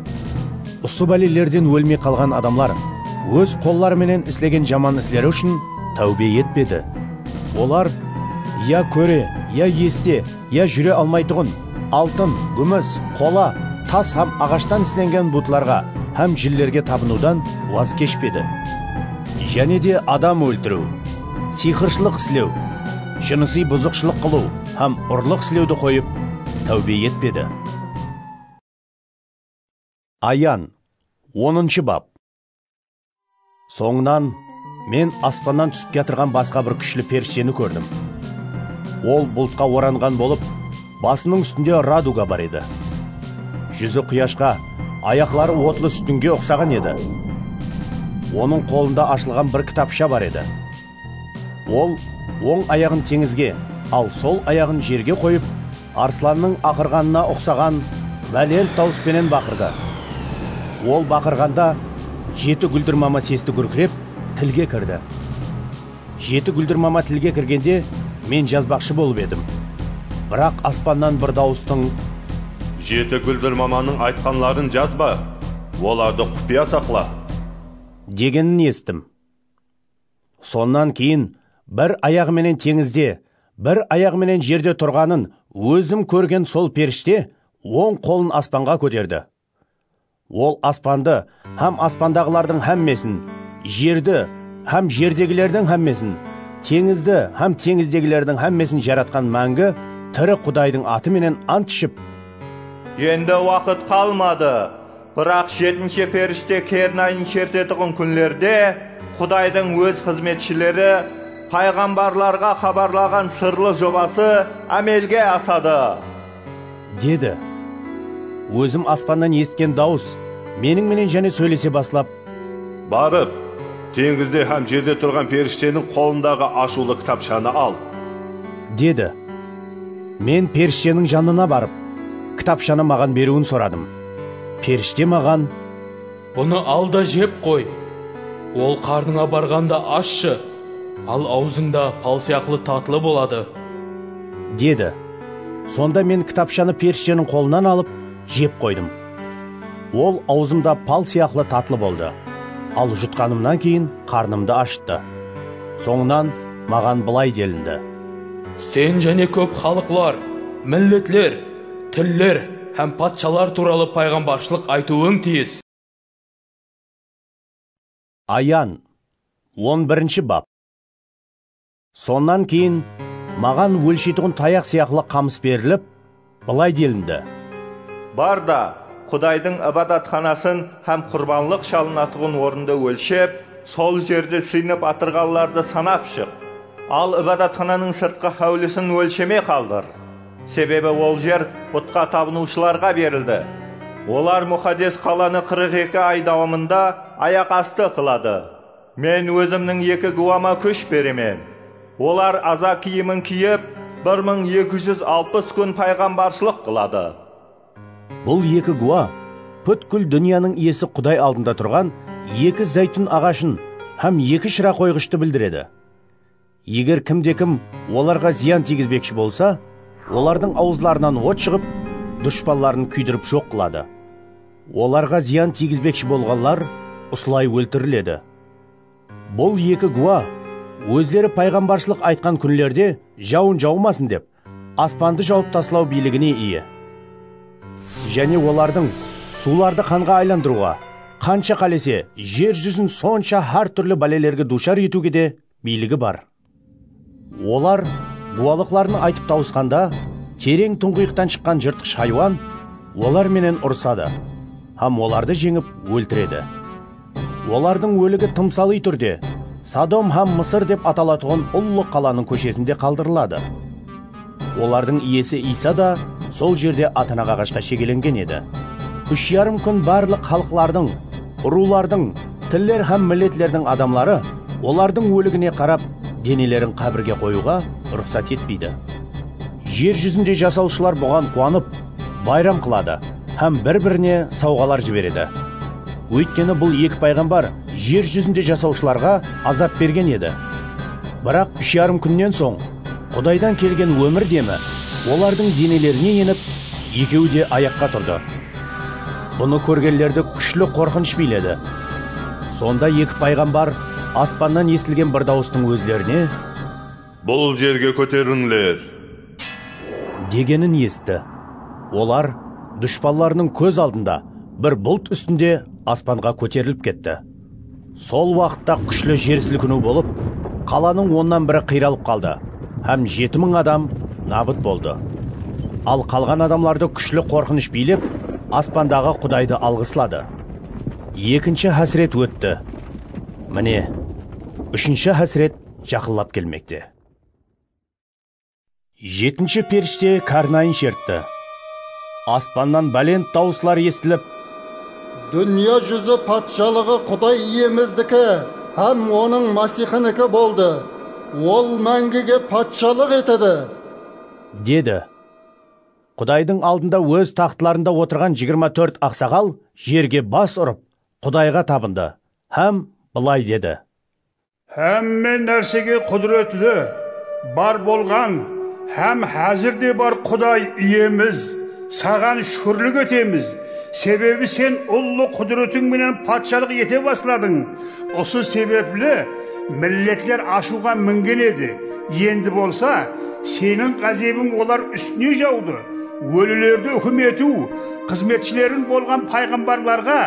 Usı bálelerden ólmey qalǵan adamlar óz qolları menen islegen jaman isleri ushın Táwbe etpedi. Olar, Ya kóre, ya este, ya júre almaytuǵın, altın, gúmis, qola, tas hám aǵashtan islengen butlarǵa hám jinlerge tabınıwdan waz keshpedi. Jáne de adam óltiriw, siyxırshılıq islew, jınısıy buzıqshılıq qılıw hám urlıq islewdi qoyıp, táwbe etpedi. Ayan, onınshı bap. Sońınan Men aspannan túsip kiyatırǵan basqa bir kúshli perishteni kórdim. Ol bultqa oranǵan bolıp, basınıń ústinde raduga bar edi. Júzi quyashqa, ayaqları otlı sútinge uqsaǵan edi. Onıń qolında ashılǵan bir kitapsha bar edi. Ol oń ayaǵın teńizge, al sol ayaǵın jerge qoyıp, arslannıń aqırǵanına uqsaǵan bálent dawıs penen baqırdı. Ol baqırǵanda jeti gúldirmama sesti gúrkirep, tilge kirdi. Jeti gúldirmama tilge kirgende men jazbaqshı bolıp edim. Biraq aspannan bir dawıstıń. Jeti gúldirmamanıń aytqanların jazba, olardı qupıya saqla! Degenin esittim. Sonnan keyin bir ayaǵı menen teńizde, bir ayaǵı menen jerde turǵanın ózim kórgen sol perishte oń qolın aspanǵa kóterdi. Ol aspandı hám aspandaǵılardıń hámmesin, jerdi hám jerdegilerdiń hámmesin, teńizdi hám teńizdegilerdiń hámmesin jaratqan máńgi tiri Qudaydıń atı menen ant iship, Endi waqıt qalmadı! Biraq jetinshe perishte kernayın shertetuǵın kúnlerde Qudaydıń Óz xızmetshileri payǵambarlarǵa xabarlaǵan sırlı jobası ámelge asadı. Dedi. Ózim aspannan esitken dawıs Meniń menen jáne sóylese baslap. Barıp, teńizde hám jerde turǵan perishteniń qolındaǵı ashıwlı kitapshanı al. Dedi. Men perishteniń janına barıp, kitapshanı maǵan beriwin soradım. Perishte maǵan. Bunı al da jep qoy. Ol qarnıńa barǵanda ashshı, al awzıńda pal sıyaqlı tatlı boladı. Dedi. Sonda men kitapshanı perishteniń qolınan alıp, jep qoydım. Ol awzımda pal sıyaqlı tatlı boldı, al jutqanımnan keyin qarnımdı ashıttı. Sońınan maǵan bılay delindi. Sen jáne kóp xalıqlar, milletler. Tiller hám patshalar tuwralı payǵambarshılıq aytıwıń tiyis. Ayan, on birinshi bap. Sonnan keyin maǵan ólsheytuǵın tayaq sıyaqlı qamıs berilip, bılay delindi. Bar da, Qudaydıń Ibadatxanasın hám qurbanlıq shalınatuǵın orındı ólshep, sol jerdi sıynıp atırǵanlardı sanap shıq. Al Ibadatxananıń sırtqı háwlisin ólshemey qaldır. Sebebi ol jer butqa tabınıwshılarǵa berildi. Olar Muxaddes qalanı qırıq eki ay dawamında ayaq astı qıladı. Men Ózimniń eki gúwama kúsh beremen. Olar aza kiyimin kiyip, bir mıń eki júz alpıs kún payǵambarshılıq qıladı. Bul eki gúwa pútkil dúnyanıń Iyesi Quday aldında turǵan eki záytún aǵashın hám eki shıra qoyǵıshtı bildiredi. Eger kimde-kim olarǵa zıyan tiygizbekshi bolsa, olardıń awızlarınan ot shıǵıp, dushpanların kúydirip joq qıladı. Olarǵa zıyan tiygizbekshi bolǵanlar usılay óltiriledi. Bul eki gúwa ózleri payǵambarshılıq aytqan kúnlerde jawın jawmasın dep, aspandı jawıp taslaw biyligine iye. Jáne olardıń suwlardı qanǵa aylandırıwǵa, qansha qálese jer júzin sonsha hár túrli bálelerge duwshar etiwge de biyligi bar. Olar guwalıqların aytıp tawısqanda, tereń tuńǵıyıqtan shıqqan jırtqısh haywan olar menen urısadı hám olardı jeńip óltiredi. Olardıń óligi tımsalıy túrde Sodom hám Mısır dep atalatuǵın ullı qalanıń kóshesinde qaldırıladı. Olardıń iyesi Iysa da sol jerde atanak aǵashqa shegelengen edi. Úsh yarım kún barlıq xalıqlardıń, urıwlardıń, tiller hám milletlerdiń adamları olardıń óligine qarap, denelerin qábirge qoyıwǵa ruxsat etpeydi. Jer júzinde jasawshılar buǵan quwanıp, bayram qıladı hám bir-birine sawǵalar jiberedi. Óytkeni bul eki payǵambar jer júzinde jasawshılarǵa azap bergen edi. Biraq úsh yarım kúnnen soń, Qudaydan kelgen ómir demi olardıń denelerine enip, ekeui de ayaqqa turdı. Bunı kórgenlerdi kúshli qorqınısh biyledi. Sonda eki payǵambar aspannan esitilgen bir dawıstıń ózlerine. Bul jerge kóterilińler! Degenin esitti. Olar dushpanlarınıń kóz aldında bir bult ústinde aspanǵa kóterilip ketti. Sol waqıtta kúshli jer silkiniw bolıp, qalanıń onnan biri qıyralıp qaldı hám jeti mıń adam nabıt boldı. Al qalǵan adamlardı kúshli qorqınısh biylep, aspandaǵı Qudaydı alǵısladı. Ekinshi hásiret ótti. Mine, úshinshi hásiret jaqınlap kelmekte. Jetinshi perishte karnayın shertti. Aspannan bálent dawıslar esitilip. Dúnya júzi patshalıǵı Quday Iyemizdiki hám Onıń Masixiniki boldı, Ol máńgige patshalıq etedi! Dedi. Qudaydıń aldında óz taxtlarında otırǵan jigirma tórt aqsaǵal jerge bas urıp, Qudayǵa tabındı hám bılay dedi, Hámme nársege qúdiretli, bar bolǵan hám házir de bar Quday Iyemiz, Saǵan shúkirlik etemiz, sebebi Sen ullı qúdiretiń menen patshalıq ete basladıń. Usı sebepli milletler ashıwǵa mingen edi, endi bolsa Seniń ǵázebiń olar ústine jawdı. Ólilerdi húkim etiw, xızmetshileriń bolǵan payǵambarlarǵa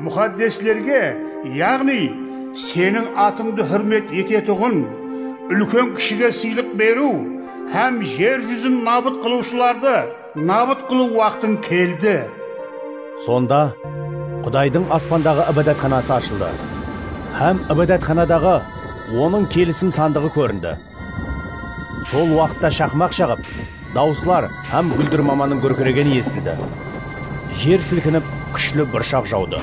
Muxaddeslerge, yaǵnıy, Seniń atıńdı húrmet etetuǵın, úlken-kishige sıylıq beriw hám jer júzin nabıt qılıwshılardı nabıt qılıw waqtıń keldi. Sonda Qudaydıń aspandaǵı Ibadatxanası ashıldı hám Ibadatxanadaǵı Onıń Kelisim sandıǵı kórindi. Sol waqıtta shaqmaq shaǵıp, dawıslar hám gúldir mamanıń gúrkiregeni esitildi. Jer silkinip, kúshli burshaq jawdı.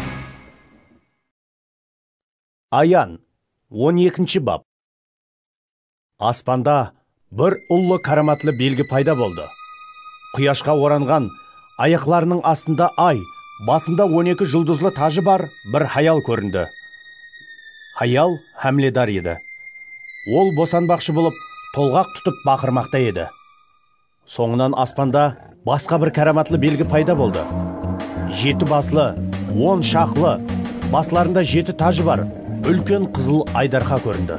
Ayan, on ekinshi bap. Aspanda bir ullı káramatlı belgi payda boldı. Quyashqa oranǵan Ayaqlarınıń astında ay, basında on eki juldızlı tajı bar bir hayal kórindi. Hayal hámledar edi. Ol bosanbaqshı bolıp, tolǵaq tutıp baqırmaqta edi. Sońınan aspanda basqa bir káramatlı belgi payda boldı. Jeti baslı, on shaqlı, baslarında jeti tajı bar úlken qızıl aydarqa kórindi.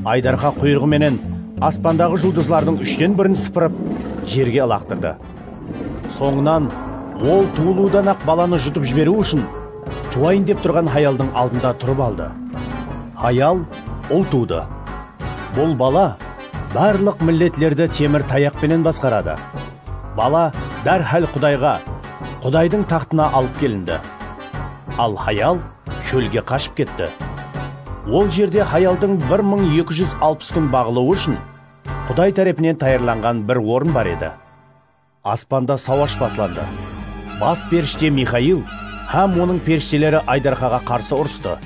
Aydarqa quyrıǵı menen aspandaǵı juldızlardıń úshten birin sıpırıp, jerge ılaqtırdı. Sońınan ol tuwılıwdan-aq balanı jutıp jiberiw ushın tuwayın dep turǵan hayaldıń aldında turıp aldı. Hayal ul tuwdı. Bul bala barlıq milletlerdi temir tayaq penen basqaradı. Bala dárhál Qudayǵa, Qudaydıń taxtına alıp kelindi. Al hayal. Shólge qashıp ketti. Ol jerde hayaldıń bir mıń eki júz alpıs kún baǵılıwı ushın Quday tárepinen tayarlanǵan bir orın bar edi. Aspanda sawash baslandı. Bas perishte Mixail hám onıń perishteleri Aydarxaǵa qarsı urıstı.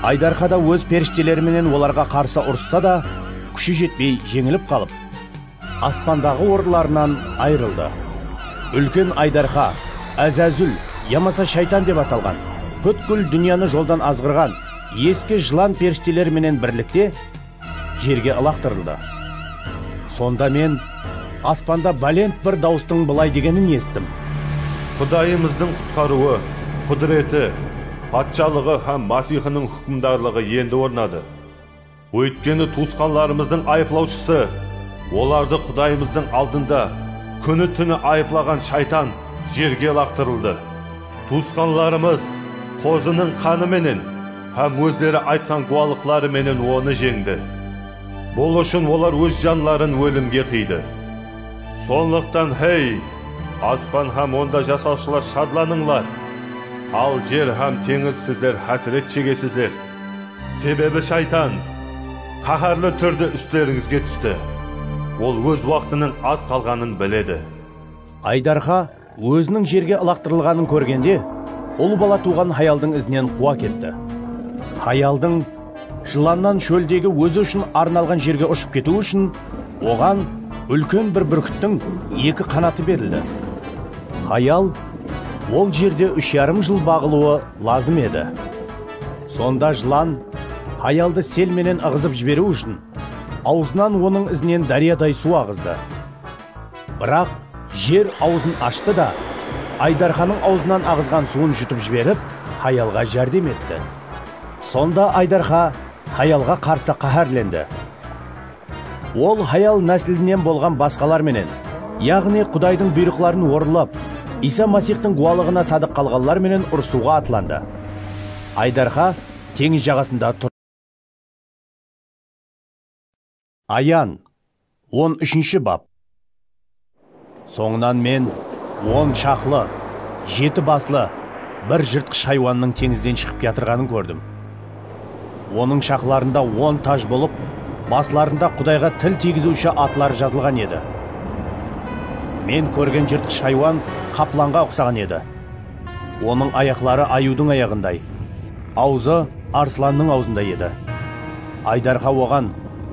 Aydarxa da óz perishteleri menen olarǵa qarsı urıssa da, kúshi jetpey jeńilip qalıp, Aspandaǵı orınlarınan ayırıldı. Úlken aydarxa, Ázázúl, yamasa Shaytan dep atalǵan, pútkil dúnyanı joldan azǵırǵan eski jılan perishteler menen birlikte jerge ılaqtırıldı. Sonda men aspanda bálent bir dawıstıń bılay degenin esittim. Qudayımızdıń qutqarıwı, qúdireti, patshalıǵı hám Masixiniń húkimdarlıǵı endi ornadı. Óytkeni tuwısqanlarımızdıń ayıplawshısı, olardı Qudayımızdıń aldında kúni-túni ayıplaǵan shaytan jerge laqtırıldı. Tuwısqanlarımız qozınıń qanı menen hám ózleri aytqan guwalıqları menen onı jeńdi. Bul ushın olar óz janların ólimge qıydı. Sonlıqtan, hey, aspan hám onda jasawshılar shadlanıńlar! Al jer hám teńiz sizler hásiret shegesizler! Sebebi Shaytan qáhárli túrde ústlerińizge tústi. Ol óz waqtınıń az qalǵanın biledi. Aydarxa óziniń jerge ılaqtırılǵanın kórgende, ul bala tuwǵan hayaldıń izinen quwa ketti. Hayaldıń jılannan shóldegi ózi ushın arnalǵan jerge ushıp ketiwi ushın oǵan úlken bir búrkittiń eki qanatı berildi. Hayal ol jerde úsh yarım jıl baǵılıwı lazım edi. Sonda jılan, hayaldı sel menen ıǵızıp jiberiw ushın, awzınan onıń izinen dáryaday suw aǵızdı. Biraq jer awzın ashtı da, Aydarxanıń awzınan aǵızǵan suwın jutıp jiberip, hayalǵa járdem etti. Sonda Aydarxa hayalǵa qarsı qáhárlendi. Ol hayal náslinen bolǵan basqalar menen, yaǵnıy Qudaydıń buyrıqların orınlap, Iysa Masixtıń guwalıǵına sadıq qalǵanlar menen urısıwǵa atlandı. Aydarxa teńiz jaǵasında turdı. Ayan, on úshinshi bap. Sońınan men on shaqlı, jeti baslı bir jırtqısh haywannıń teńizden shıǵıp kiyatırǵanın kórdim. Onıń shaqlarında on taj bolıp, baslarında Qudayǵa til tiygiziwshi atları jazılǵan edi. Men kórgen jırtqısh haywan qaplanǵa uqsaǵan edi. Onıń ayaqları ayıwdıń ayaǵınday, awzı arslannıń awzınday edi. Aydarqa oǵan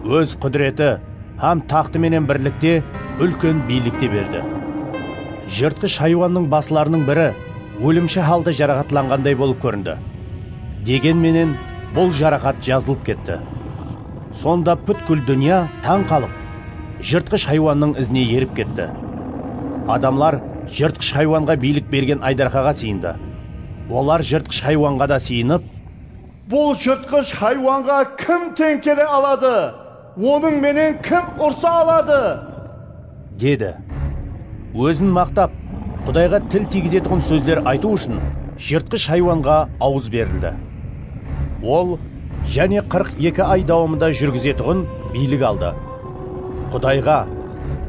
Óz qúdireti, hám taxtı menen birlikte úlken biylik te berdi. Jırtqısh haywannıń baslarınıń biri ólimshi halda jaraxatlanǵanday bolıp kórindi. Degen menen, bul jaraxat jazılıp ketti. Sonda pútkil dúnya tań qalıp, jırtqısh haywannıń izine erip ketti. Adamlar jırtqısh haywanǵa biylik bergen aydarxaǵa sıyındı. Olar jırtqısh haywanǵa da sıyınıp. Bul jırtqısh haywanǵa kim teń kele aladı? Onıń menen kim ursa aladı? Dedi. Ózin maqtap, Qudayǵa til tiygizetuǵın sózler aytıw ushın jırtqısh haywanǵa awız berildi. Ol jáne qırq eki ay dawamında júrgizetuǵın biylik aldı. Qudayǵa,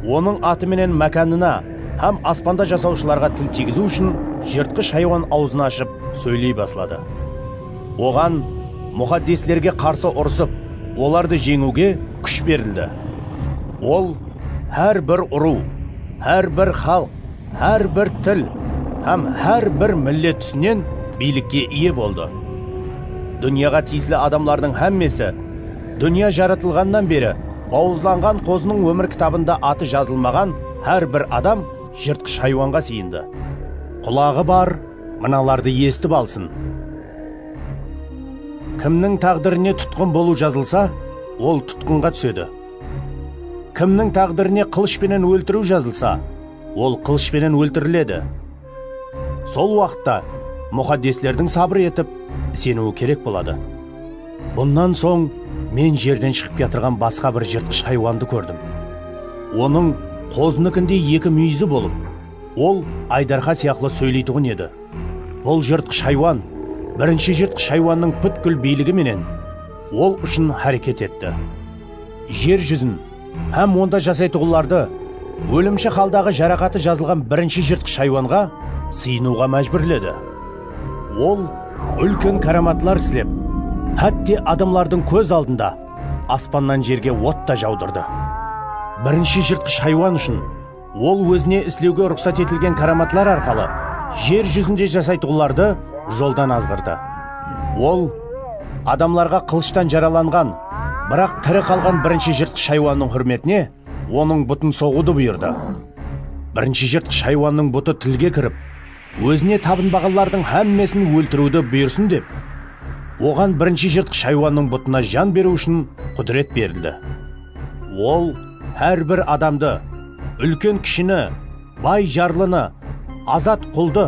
Onıń atı menen mákanına hám aspanda jasawshılarǵa til tiygiziw ushın jırtqısh haywan awzın ashıp sóyley basladı. Oǵan muxaddeslerge qarsı urısıp, olardı jeńiwge kúsh berildi. Ol hár bir urıw, hár bir xalıq, hár bir til hám hár bir millet túsinen biylikke iye boldı. Dúnyaǵa tiyisli adamlardıń hámmesi dúnya jaratılǵannan beri bawızlanǵan qozınıń ómir kitabında atı jazılmaǵan hár bir adam jırtqısh haywanǵa sıyındı. Qulaǵı bar, mınalardı esitip alsın, Kimniń táǵdirine tutqın bolıw jazılsa, ol tutqınǵa túsedi, kimniń táǵdirine qılısh penen óltiriw jazılsa, ol qılısh penen óltiriledi. Sol waqıtta muxaddeslerdiń sabır etip, iseniwi kerek boladı. Bunnan soń men jerden shıǵıp kiyatırǵan basqa bir jırtqısh haywandı kórdim. Onıń qozınikindey eki múyizi bolıp. Ol aydarqa sıyaqlı sóyleytuǵın edi. Bul jırtqısh haywan birinshi jırtqısh haywannıń pútkil biyligi menen ol ushın háreket etti. Jer júzin hám onda jasaytuǵınlardı ólimshi haldaǵı jaraqatı jazılǵan birinshi jırtqısh haywanǵa sıyınıwǵa májbúrledi. Ol úlken káramatlar islep, hátte adamlardıń kóz aldında aspannan jerge ot ta jawdırdı. Birinshi jırtqısh haywan ushın. Ol ózine islewge ruqsat etilgen káramatlar arqalı jer júzinde jasaytuǵınlardı joldan azǵırdı. Ol adamlarǵa qılıshtan jaralanǵan, biraq tiri qalǵan birinshi jırtqısh haywannıń húrmetine onıń butın soǵıwdı buyırdı. Birinshi jırtqısh haywannıń butı tilge kirip. Ózine tabınbaǵanlardıń hámmesin óltiriwdi buyırsın dep, oǵan birinshi jırtqısh haywannıń butına jan beriw ushın qudiret berildi. Ol hár bir adamdı, úlken-kishini, bay-jarlını, azat-quldı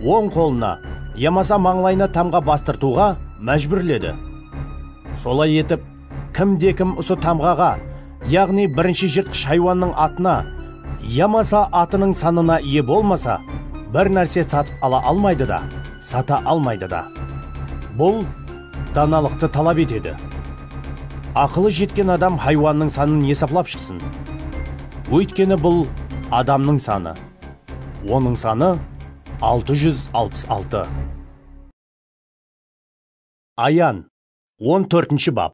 oń qolına yamasa mańlayına tamǵa bastırtıwǵa májbúrledi. Solay etip, Kimde-kim usı tamǵaǵa, yaǵnıy birinshi jırtqısh haywannıń atına yamasa atınıń sanına iye bolmasa, bir nárse satıp ala almaydı da, sata almaydı da. Bul danalıqtı talap etedi. Aqılı jetken adam haywannıń sanın esaplap shıqsın. Óytkeni bul adamnıń sanı. Onıń sanı altı júz alpıs altı. Ayan, On tórtinshi bap.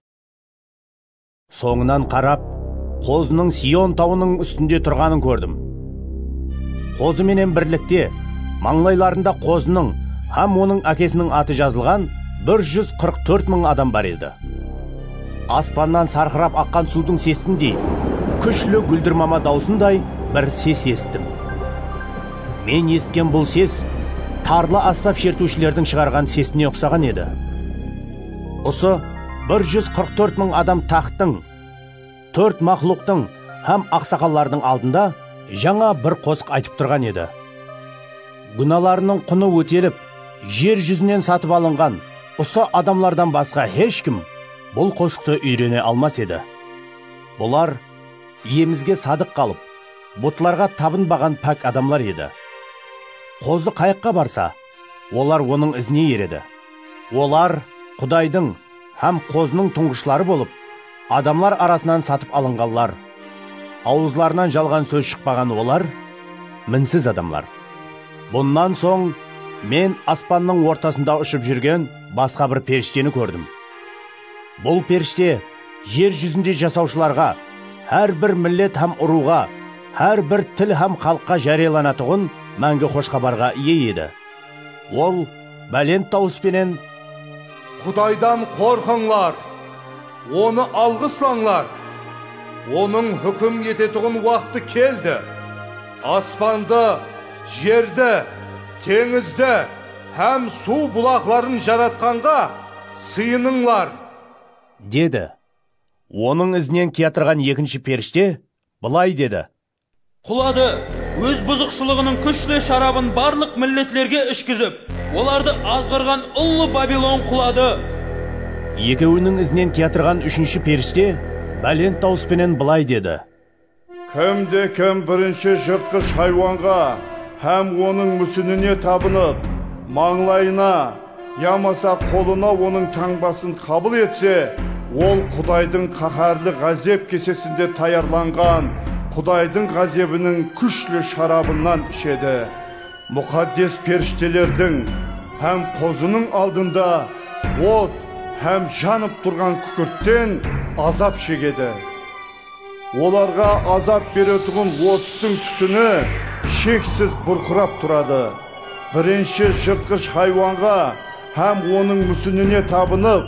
Sońınan qarap, qozınıń Sion tawınıń ústinde turǵanın kórdim. Qozı menen birlikte, mańlaylarında qozınıń hám onıń ákesiniń atı jazılǵan bir júz qırq tórt mıń adam bar edi. Aspannan sarqırap aqqan suwdıń sesindey, kúshli gúldirmama dawısınday bir ses esittim. Men esitken bul ses tarlı asbap shertiwshilerdiń shıǵarǵan sesine uqsaǵan edi. Usı bir júz qırq tórt mıń adam taxttıń, tórt maqluqtıń hám aqsaqallardıń aldında jańa bir qosıq aytıp turǵan edi. Gúnalarınıń qunı ótelip, jer júzinen satıp alınǵan usı adamlardan basqa hesh kim bul qosıqtı úyrene almas edi. Bular Iyemizge sadıq qalıp, butlarǵa tabınbaǵan pák adamlar edi. Qozı qayaqqa barsa, olar onıń izine eredi. Olar Qudaydıń hám qozınıń tuńǵıshları bolıp, adamlar arasınan satıp alınǵanlar. Awızlarınan jalǵan sóz shıqpaǵan olar minsiz adamlar. Bunnan soń men aspannıń ortasında ushıp júrgen basqa bir perishteni kórdim. Bul perishte jer júzinde jasawshılarǵa, hár bir millet hám urıwǵa, hár bir til hám xalıqqa járiyalanatuǵın máńgi xoshxabarǵa iye edi. Ol bálent dawıs penen. Qudaydan qorqıńlar! Onı alǵıslańlar! Onıń húkim etetuǵın waqtı keldi! Aspandı, jerdi, teńizdi hám suw bulaqların Jaratqanǵa! Sıyınıńlar! Dedi. Onıń izinen kiyatırǵan ekinshi perishte bılay dedi. Quladı, óz buzıqshılıǵınıń kúshli sharabın barlıq milletlerge ishkizip, olardı azǵırǵan ullı Babilon quladı. Ekewiniń izinen kiyatırǵan úshinshi perishte bálent dawıs penen bılay dedi. Kimde-kim birinshi jırtqısh haywanǵa hám onıń músinine tabınıp, mańlayına yamasa qolına onıń tańbasın qabıl etse, ol Qudaydıń qáhárli ǵázep kesesinde tayarlanǵan Qudaydıń ǵázebiniń kúshli sharabınan ishedi. Muqaddes perishtelerdiń hám Qozınıń aldında ot hám janıp turǵan kúkirtten azap shegedi. Olarǵa azap beretuǵın ottıń tútini sheksiz burqırap turadı. Birinshi jırtqısh haywanǵa hám onıń músinine tabınıp,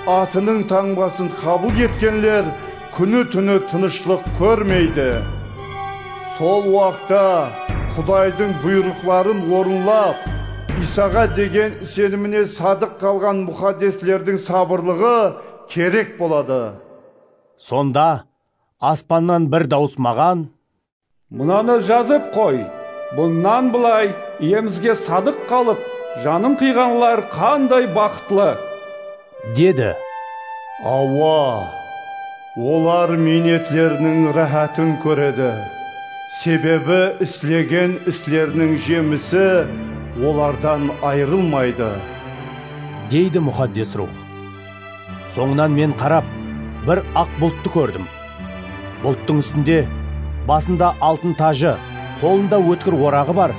atınıń tańbasın qabıl etkenler kúni-túni tınıshlıq kórmeydi. Sol waqta Qudaydıń buyrıqların orınlap, Iysaǵa degen isenimine sadıq qalǵan muxaddeslerdiń sabırlıǵı kerek boladı. Sonda aspannan bir dawıs maǵan. Mınanı jazıp qoy, Bunnan bılay Iyemizge sadıq qalıp, janın qıyǵanlar qanday baxıtlı! Dedi. Awa, olar miynetleriniń ráhátın kóredi, sebebi islegen isleriniń jemisi olardan ayrılmaydı. Deydi Muxaddes Ruwx. Sońınan men qarap, bir aq bulttı kórdim. Bulttıń ústinde basında altın tajı, qolında ótkir oraǵı bar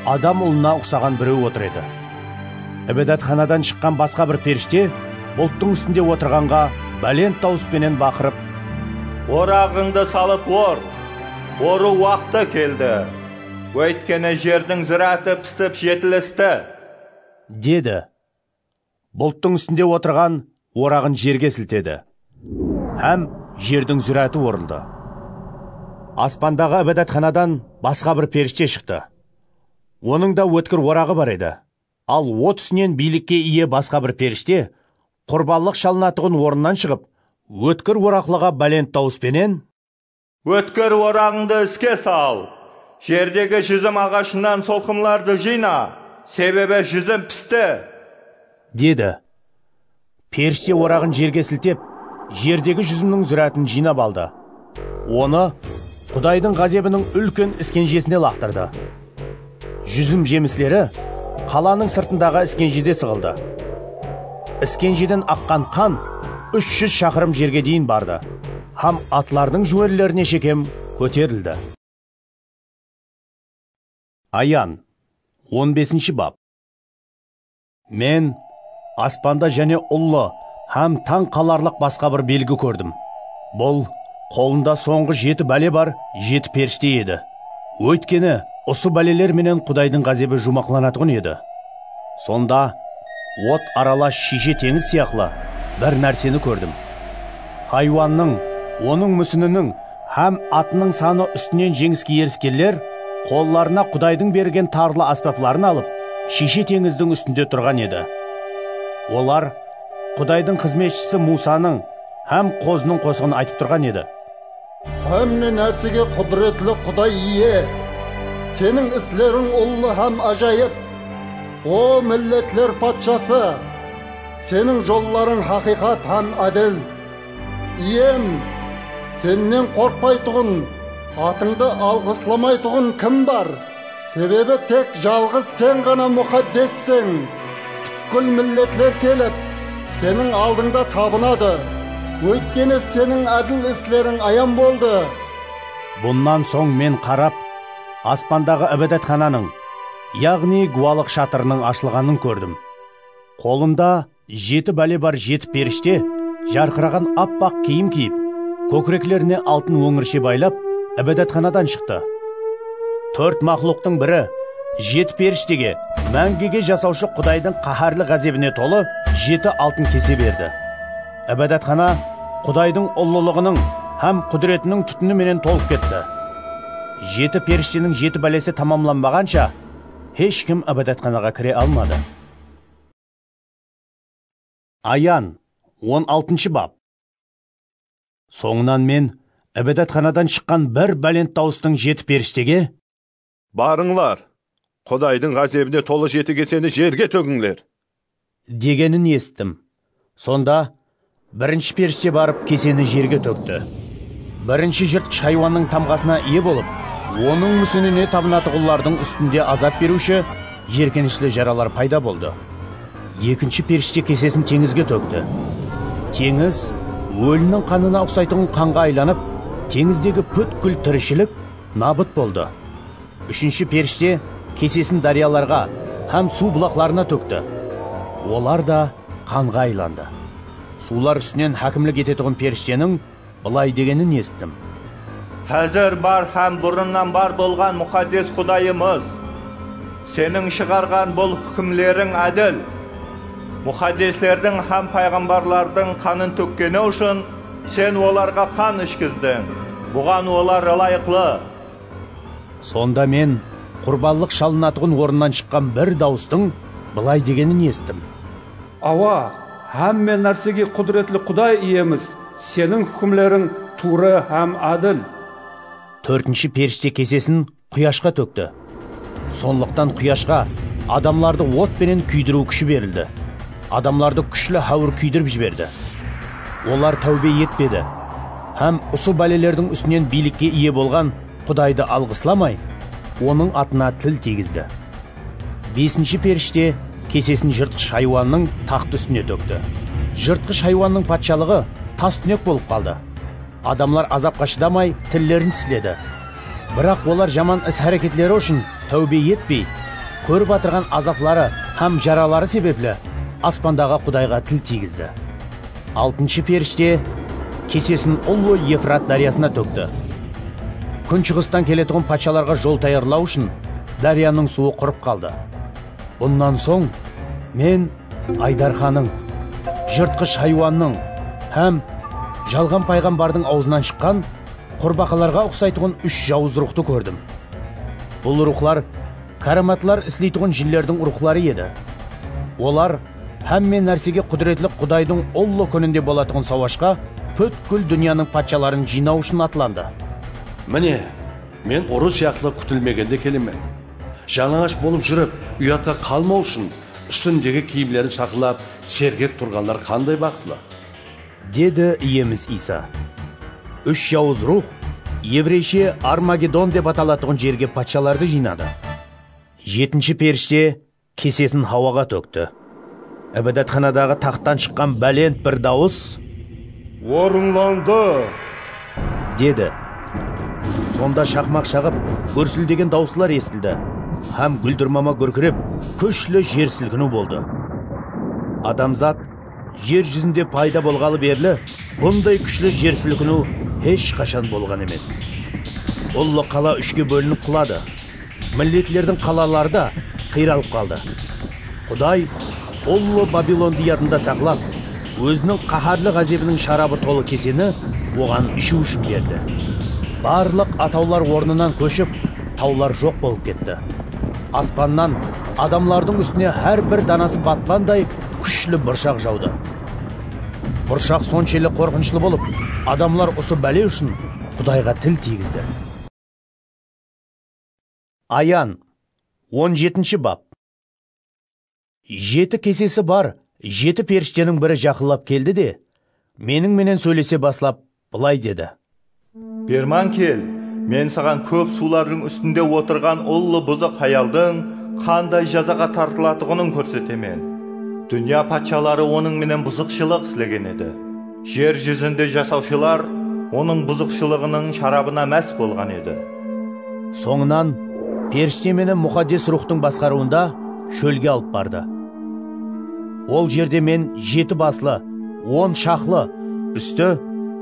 adam ulına uqsaǵan birew otır edi. Ibadatxanadan shıqqan basqa bir perishte bulttıń ústinde otırǵanǵa bálent dawıs penen baqırıp, Oraǵıńdı salıp or! Orıw waqtı keldi! Óytkeni jerdiń zıratı pisip jetilisti! Dedi. Bulttıń ústinde otırǵan oraǵın jerge siltedi hám jerdiń zúráti orıldı. Aspandaǵı Ibadatxanadan basqa bir perishte shıqtı. Onıń da ótkir oraǵı bar edi. Al o túsinen biylikke iye basqa bir perishte qurbanlıq shalınatuǵın orınnan shıǵıp, ótkir oraqlıǵa bálent dawıs penen, Ótkir oraǵıńdı iske sal. Jerdegi júzim aǵashınan solqımlardı jıyna, sebebi júzim pisti. Dedi. Perishte oraǵın jerge siltep, jerdegi júzimniń zúrátin jıynap aldı. Onı Qudaydıń ǵázebiniń úlken iskenjesine laqtırdı. Júzim jemisleri qalanıń sırtındaǵı iskenjide sıǵıldı. Iskenjeden aqqan qan úsh júz shaqırım jerge deyin bardı hám atlardıń júwerlerine shekem kóterildi. Ayan, on besinshi bap. Men aspanda jáne ullı hám tań qalarlıq basqa bir belgi kórdim. Bul qolında sońǵı jeti bále bar jeti perishte edi. Óytkeni, usı báleler menen Qudaydıń ǵázebi juwmaqlanatuǵın edi. Sonda ot aralash shiyshe teńiz sıyaqlı bir nárseni kórdim. Haywannıń, onıń músininiń, Hám atınıń sanı ústinen jeńiske eriskenler qollarına Qudaydıń bergen tarlı ásbapların alıp, Shiyshe teńizdiń ústinde turǵan edi. Olar Qudaydıń xızmetshisi Muwsanıń hám qozınıń qosıǵın aytıp turǵan edi. Hámme nársege qúdiretli Quday Iye, Seniń isleriń ullı hám ájayıp. O, milletler Patshası! Seniń jollarıń haqıyqat hám ádil. Iyem, Sennen qorqpaytuǵın, atıńdı alǵıslamaytuǵın kim bar? Sebebi tek jalǵız Sen ǵana muxaddesseń. Pútkil milletler kelip, Seniń aldıńda tabınadı, óytkeni Seniń ádil isleriń ayan boldı. Bunnan soń men qarap, aspandaǵı Ibadatxananıń, yaǵnıy Guwalıq shatırınıń ashılǵanın kórdim. Qolında. Jeti bále bar jeti perishte jarqıraǵan appaq kiyim kiyip, kókireklerine altın óńirshe baylap, Ibadatxanadan shıqtı. Tórt maqluqtıń biri jeti perishtege máńgige jasawshı Qudaydıń qáhárli ǵázebine tolı jeti altın kese berdi. Ibadatxana Qudaydıń ullılıǵınıń hám qúdiretiniń tútini menen tolıp ketti. Jeti perishteniń jeti bálesi tamamlanbaǵansha, hesh kim Ibadatxanaǵa kire almadı. Ayan, on altınshı bap. Sońınan men Ibadatxanadan shıqqan bir bálent dawıstıń jeti perishtege. Barıńlar, Qudaydıń ǵázebine tolı jeti keseni jerge tógińler! Degenin esittim. Sonda Birinshi perishte barıp keseni jerge tókti. Birinshi jırtqısh haywannıń tamǵasına iye bolıp, onıń músinine tabınatuǵınlardıń ústinde azap beriwshi, jerkenishli jaralar payda boldı. Ekinshi perishte kesesin teńizge tókti. Teńiz, óliniń qanına uqsaytuǵın qanǵa aylanıp, teńizdegi pútkil tirishilik nabıt boldı. Úshinshi perishte kesesin dáryalarǵa hám suw bulaqlarına tókti. Olar da qanǵa aylandı. Suwlar ústinen hákimlik etetuǵın perishteniń bılay degenin esittim. Házir bar hám burınnan bar bolǵan Muxaddes Qudayımız! Seniń shıǵarǵan bul húkimleriń ádil. Muxaddeslerdiń hám payǵambarlardıń qanın tókkeni ushın Sen olarǵa qan ishkizdiń, buǵan olar ılayıqlı. Sonda men qurbanlıq shalınatuǵın orınnan shıqqan bir dawıstıń bılay degenin esittim. Awa, hámme nársege qúdiretli Quday Iyemiz, Seniń húkimleriń tuwrı hám ádil. Tórtinshi perishte kesesin quyashqa tókti. Sonlıqtan quyashqa adamlardı ot penen kúydiriw kúshi berildi. Adamlardı kúshli háwir kúydirip jiberdi. Olar táwbe etpedi. hám usı bálelerdiń ústinen biylikke iye bolǵan Qudaydı alǵıslamay, Onıń atına til tiygizdi. Besinshi perishte kesesin jırtqısh haywannıń taxtı ústine tókti. Jırtqısh haywannıń patshalıǵı tas-túnek bolıp qaldı. Adamlar azapqa shıdamay tillerin tisledi. Biraq olar jaman is-háreketleri ushın táwbe etpey, kórip atırǵan azapları hám jaraları sebepli Aspandaǵı Qudayǵa til tiygizdi. Altınshı perishte kesesin ullı Efrat dáryasına tókti. Kúnshıǵıstan keletuǵın patshalarǵa jol tayarlaw ushın dáryanıń suwı qurıp qaldı. Bunnan soń Men aydarxanıń, jırtqısh haywannıń hám jalǵan payǵambardıń awzınan shıqqan qurbaqalarǵa uqsaytuǵın úsh jawız ruwxtı kórdim. Bul ruwxlar Káramatlar isleytuǵın jinlerdiń ruxları edi. Olar hámme nársege qúdiretli Qudaydıń ullı kúninde bolatuǵın sawashqa pútkil dúnyanıń patshaların jıynaw ushın atlandı. Mine, Men urı sıyaqlı kútilmegende kelemen. Jalańash bolıp júrip, uyatqa qalmaw ushın, ústindegi kiyimlerin saqlap, sergek turǵanlar qanday baxıtlı! Dedi Iyemiz Iysa. Úsh jawız ruwx, evreyshe Armagedon dep atalatuǵın jerge patshalardı jıynadı. Jetinshi perishte kesesin hawaǵa tókti. Ibadatxanadaǵı taxttan shıqqan bálent bir dawıs. Orınlandı! Dedi. Sonda shaqmaq shaǵıp, gúrsildegen dawıslar esitildi hám gúldirmama gúrkirep, kúshli jer silkiniw boldı. Adamzat. Jer júzinde payda bolǵalı berli bunday kúshli jer silkiniw hesh qashan bolǵan emes. Ullı qala úshke bólinip quladı. Milletlerdiń qalaları da qıyralıp qaldı. Quday Ullı Babilondı yadında saqlap, Óziniń qáhárli ǵázebiniń sharabı tolı keseni oǵan ishiw ushın berdi. Barlıq atawlar ornınan kóship, tawlar joq bolıp ketti. Aspannan adamlardıń ústine hár bir danası batpanday kúshli burshaq jawdı. Burshaq sonshelli qorqınıshlı bolıp, adamlar usı bále ushın Qudayǵa til tiygizdi. Ayan, on jetinshi bap. Jeti kesesi bar jeti perishteniń biri jaqınlap keldi de, meniń menen sóylese baslap, Bılay dedi. Berman kel, men saǵan kóp suwlardıń ústinde otırǵan ullı buzıq hayaldıń qanday jazaǵa tartılatuǵının kórsetemen. Dúnya patshaları onıń menen buzıqshılıq islegen edi. Jer júzinde jasawshılar onıń buzıqshılıǵınıń sharabına más bolǵan edi. Sońınan perishte meni Muxaddes Ruwxtıń basqarıwında shólge alıp bardı. Ol jerde men jeti baslı, on shaqlı, ústi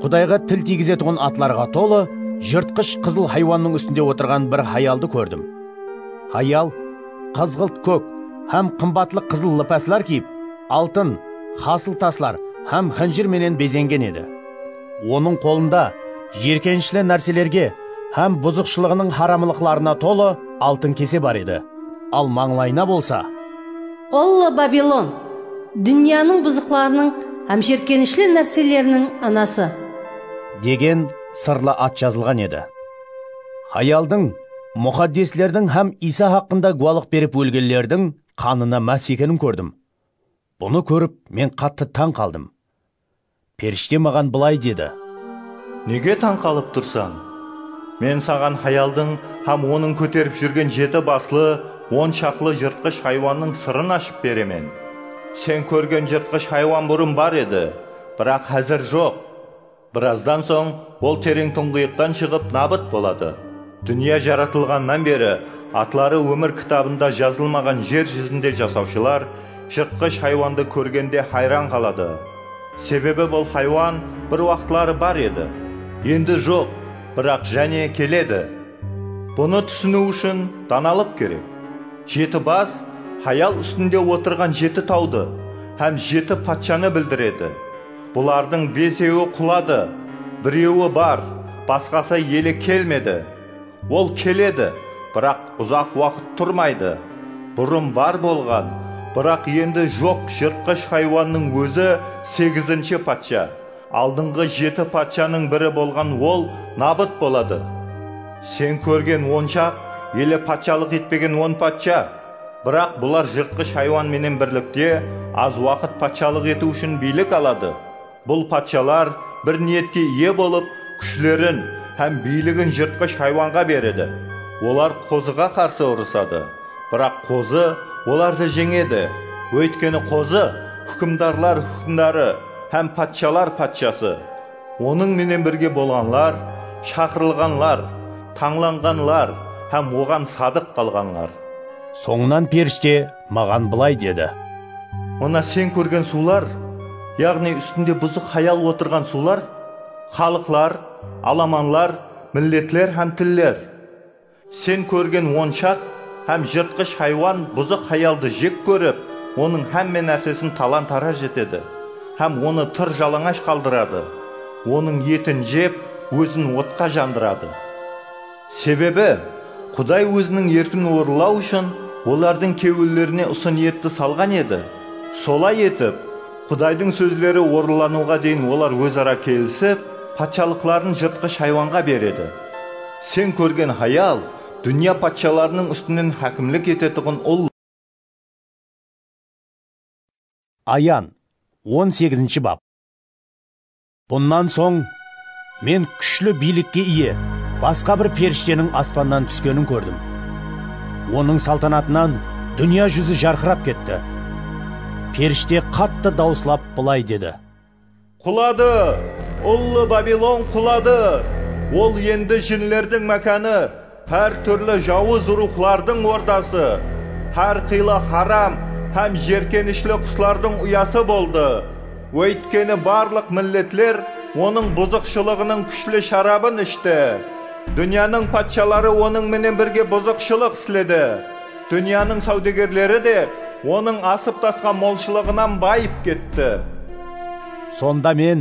Qudayǵa til tiygizetuǵın atlarǵa tolı jırtqısh qızıl haywannıń ústinde otırǵan bir hayaldı kórdim. Hayal qızǵılt kók hám qımbatlı qızıl lipaslar kiyip, altın, hasıl taslar hám xinjir menen bezengen edi. Onıń qolında jiyirkenishli nárselerge hám buzıqshılıǵınıń haramlıqlarına tolı altın kese bar edi, al mańlayına bolsa. Ullı Babilon, dúnyanıń buzıqlarınıń hám jiyirkenishli nárseleriniń anası. Degen sırlı at jazılǵan edi. Hayaldıń, muxaddeslerdiń hám Iysa haqqında gúwalıq berip ólgenlerdiń qanına más ekenin kórdim. Bunı kórip, men qattı tań qaldım. Perishte maǵan bılay dedi. Nege tań qalıp tursań? Men saǵan hayaldıń hám onıń kóterip júrgen jeti baslı on shaqlı jırtqısh haywannıń sırın ashıp beremen. Sen kórgen jırtqısh haywan burın bar edi, biraq házir joq. Birazdan soń ol tereń tuńǵıyıqtan shıǵıp nabıt boladı. Dúnya jaratılǵannan beri atları ómir kitabında jazılmaǵan jer júzinde jasawshılar Jırtqısh haywandı kórgende hayran qaladı. Sebebi bul haywan bir waqıtları bar edi, endi joq, biraq jáne keledi. Bunı túsiniw ushın danalıq kerek. Jeti bas hayal ústinde otırǵan jeti tawdı hám jeti patshanı bildiredi. Bulardıń besewi quladı, birewi bar, basqası ele kelmedi. Ol keledi, biraq uzaq waqıt turmaydı. Burın bar bolǵan, biraq endi joq jırtqısh haywannıń ózi segizinshi patsha. Aldınǵı jeti patshanıń biri bolǵan ol nabıt boladı. Sen kórgen onshaq ele patshalıq etpegen on patsha. Biraq bular jırtqısh haywan menen birlikte az waqıt patshalıq etiw ushın biylik aladı. Bul patshalar bir niyetke iye bolıp, kúshlerin hám biyligin jırtqısh haywanǵa beredi. Olar qozıǵa qarsı urısadı, biraq qozı olardı jeńedi, óytkeni qozı húkimdarlar húkimdarı hám patshalar patshası. Onıń menen birge bolǵanlar, shaqırılǵanlar, tańlanǵanlar hám oǵan sadıq qalǵanlar. Sońınan perishte maǵan bılay dedi. Mına sen kórgen suwlar, yaǵnıy ústinde buzıq hayal otırǵan suwlar, xalıqlar, alamanlar, milletler hám tiller. Sen kórgen onshaq hám jırtqısh haywan buzıq hayaldı jek kórip, onıń hámme nársesin talan-taraj etedi hám onı tır jalańash qaldıradı, onıń etin jep, ózin otqa jandıradı. Sebebi, Quday Óziniń erkin orınlaw ushın olardıń kewillerine usı niyetti salǵan edi. Solay etip, Qudaydıń sózleri orınlanıwǵa deyin olar óz-ara kelisip, patshalıqların jırtqısh haywanǵa beredi. Sen kórgen hayal, dúnya patshalarınıń ústinen hákimlik etetuǵın ul. Ayan, on segizinshi bap. Bunnan soń Men kúshli biylikke iye basqa bir perishteniń aspannan túskenin kórdim. Onıń saltanatınan dúnya júzi jarqırap ketti. Perishte qattı dawıslap bılay dedi. Quladı! Ullı Babilon quladı! Ol endi jinlerdiń mákanı! Hár túrli jawız ruwxlardıń ordası, hár qıylı haram hám jerkenishli quslardıń uyası boldı, óytkeni barlıq milletler onıń buzıqshılıǵınıń kúshli sharabın ishti. Dúnyanıń patshaları onıń menen birge buzıqshılıq isledi, dúnyanıń sáwdegerleri de onıń asıp-tasqan molshılıǵınan bayıp ketti. Sonda Men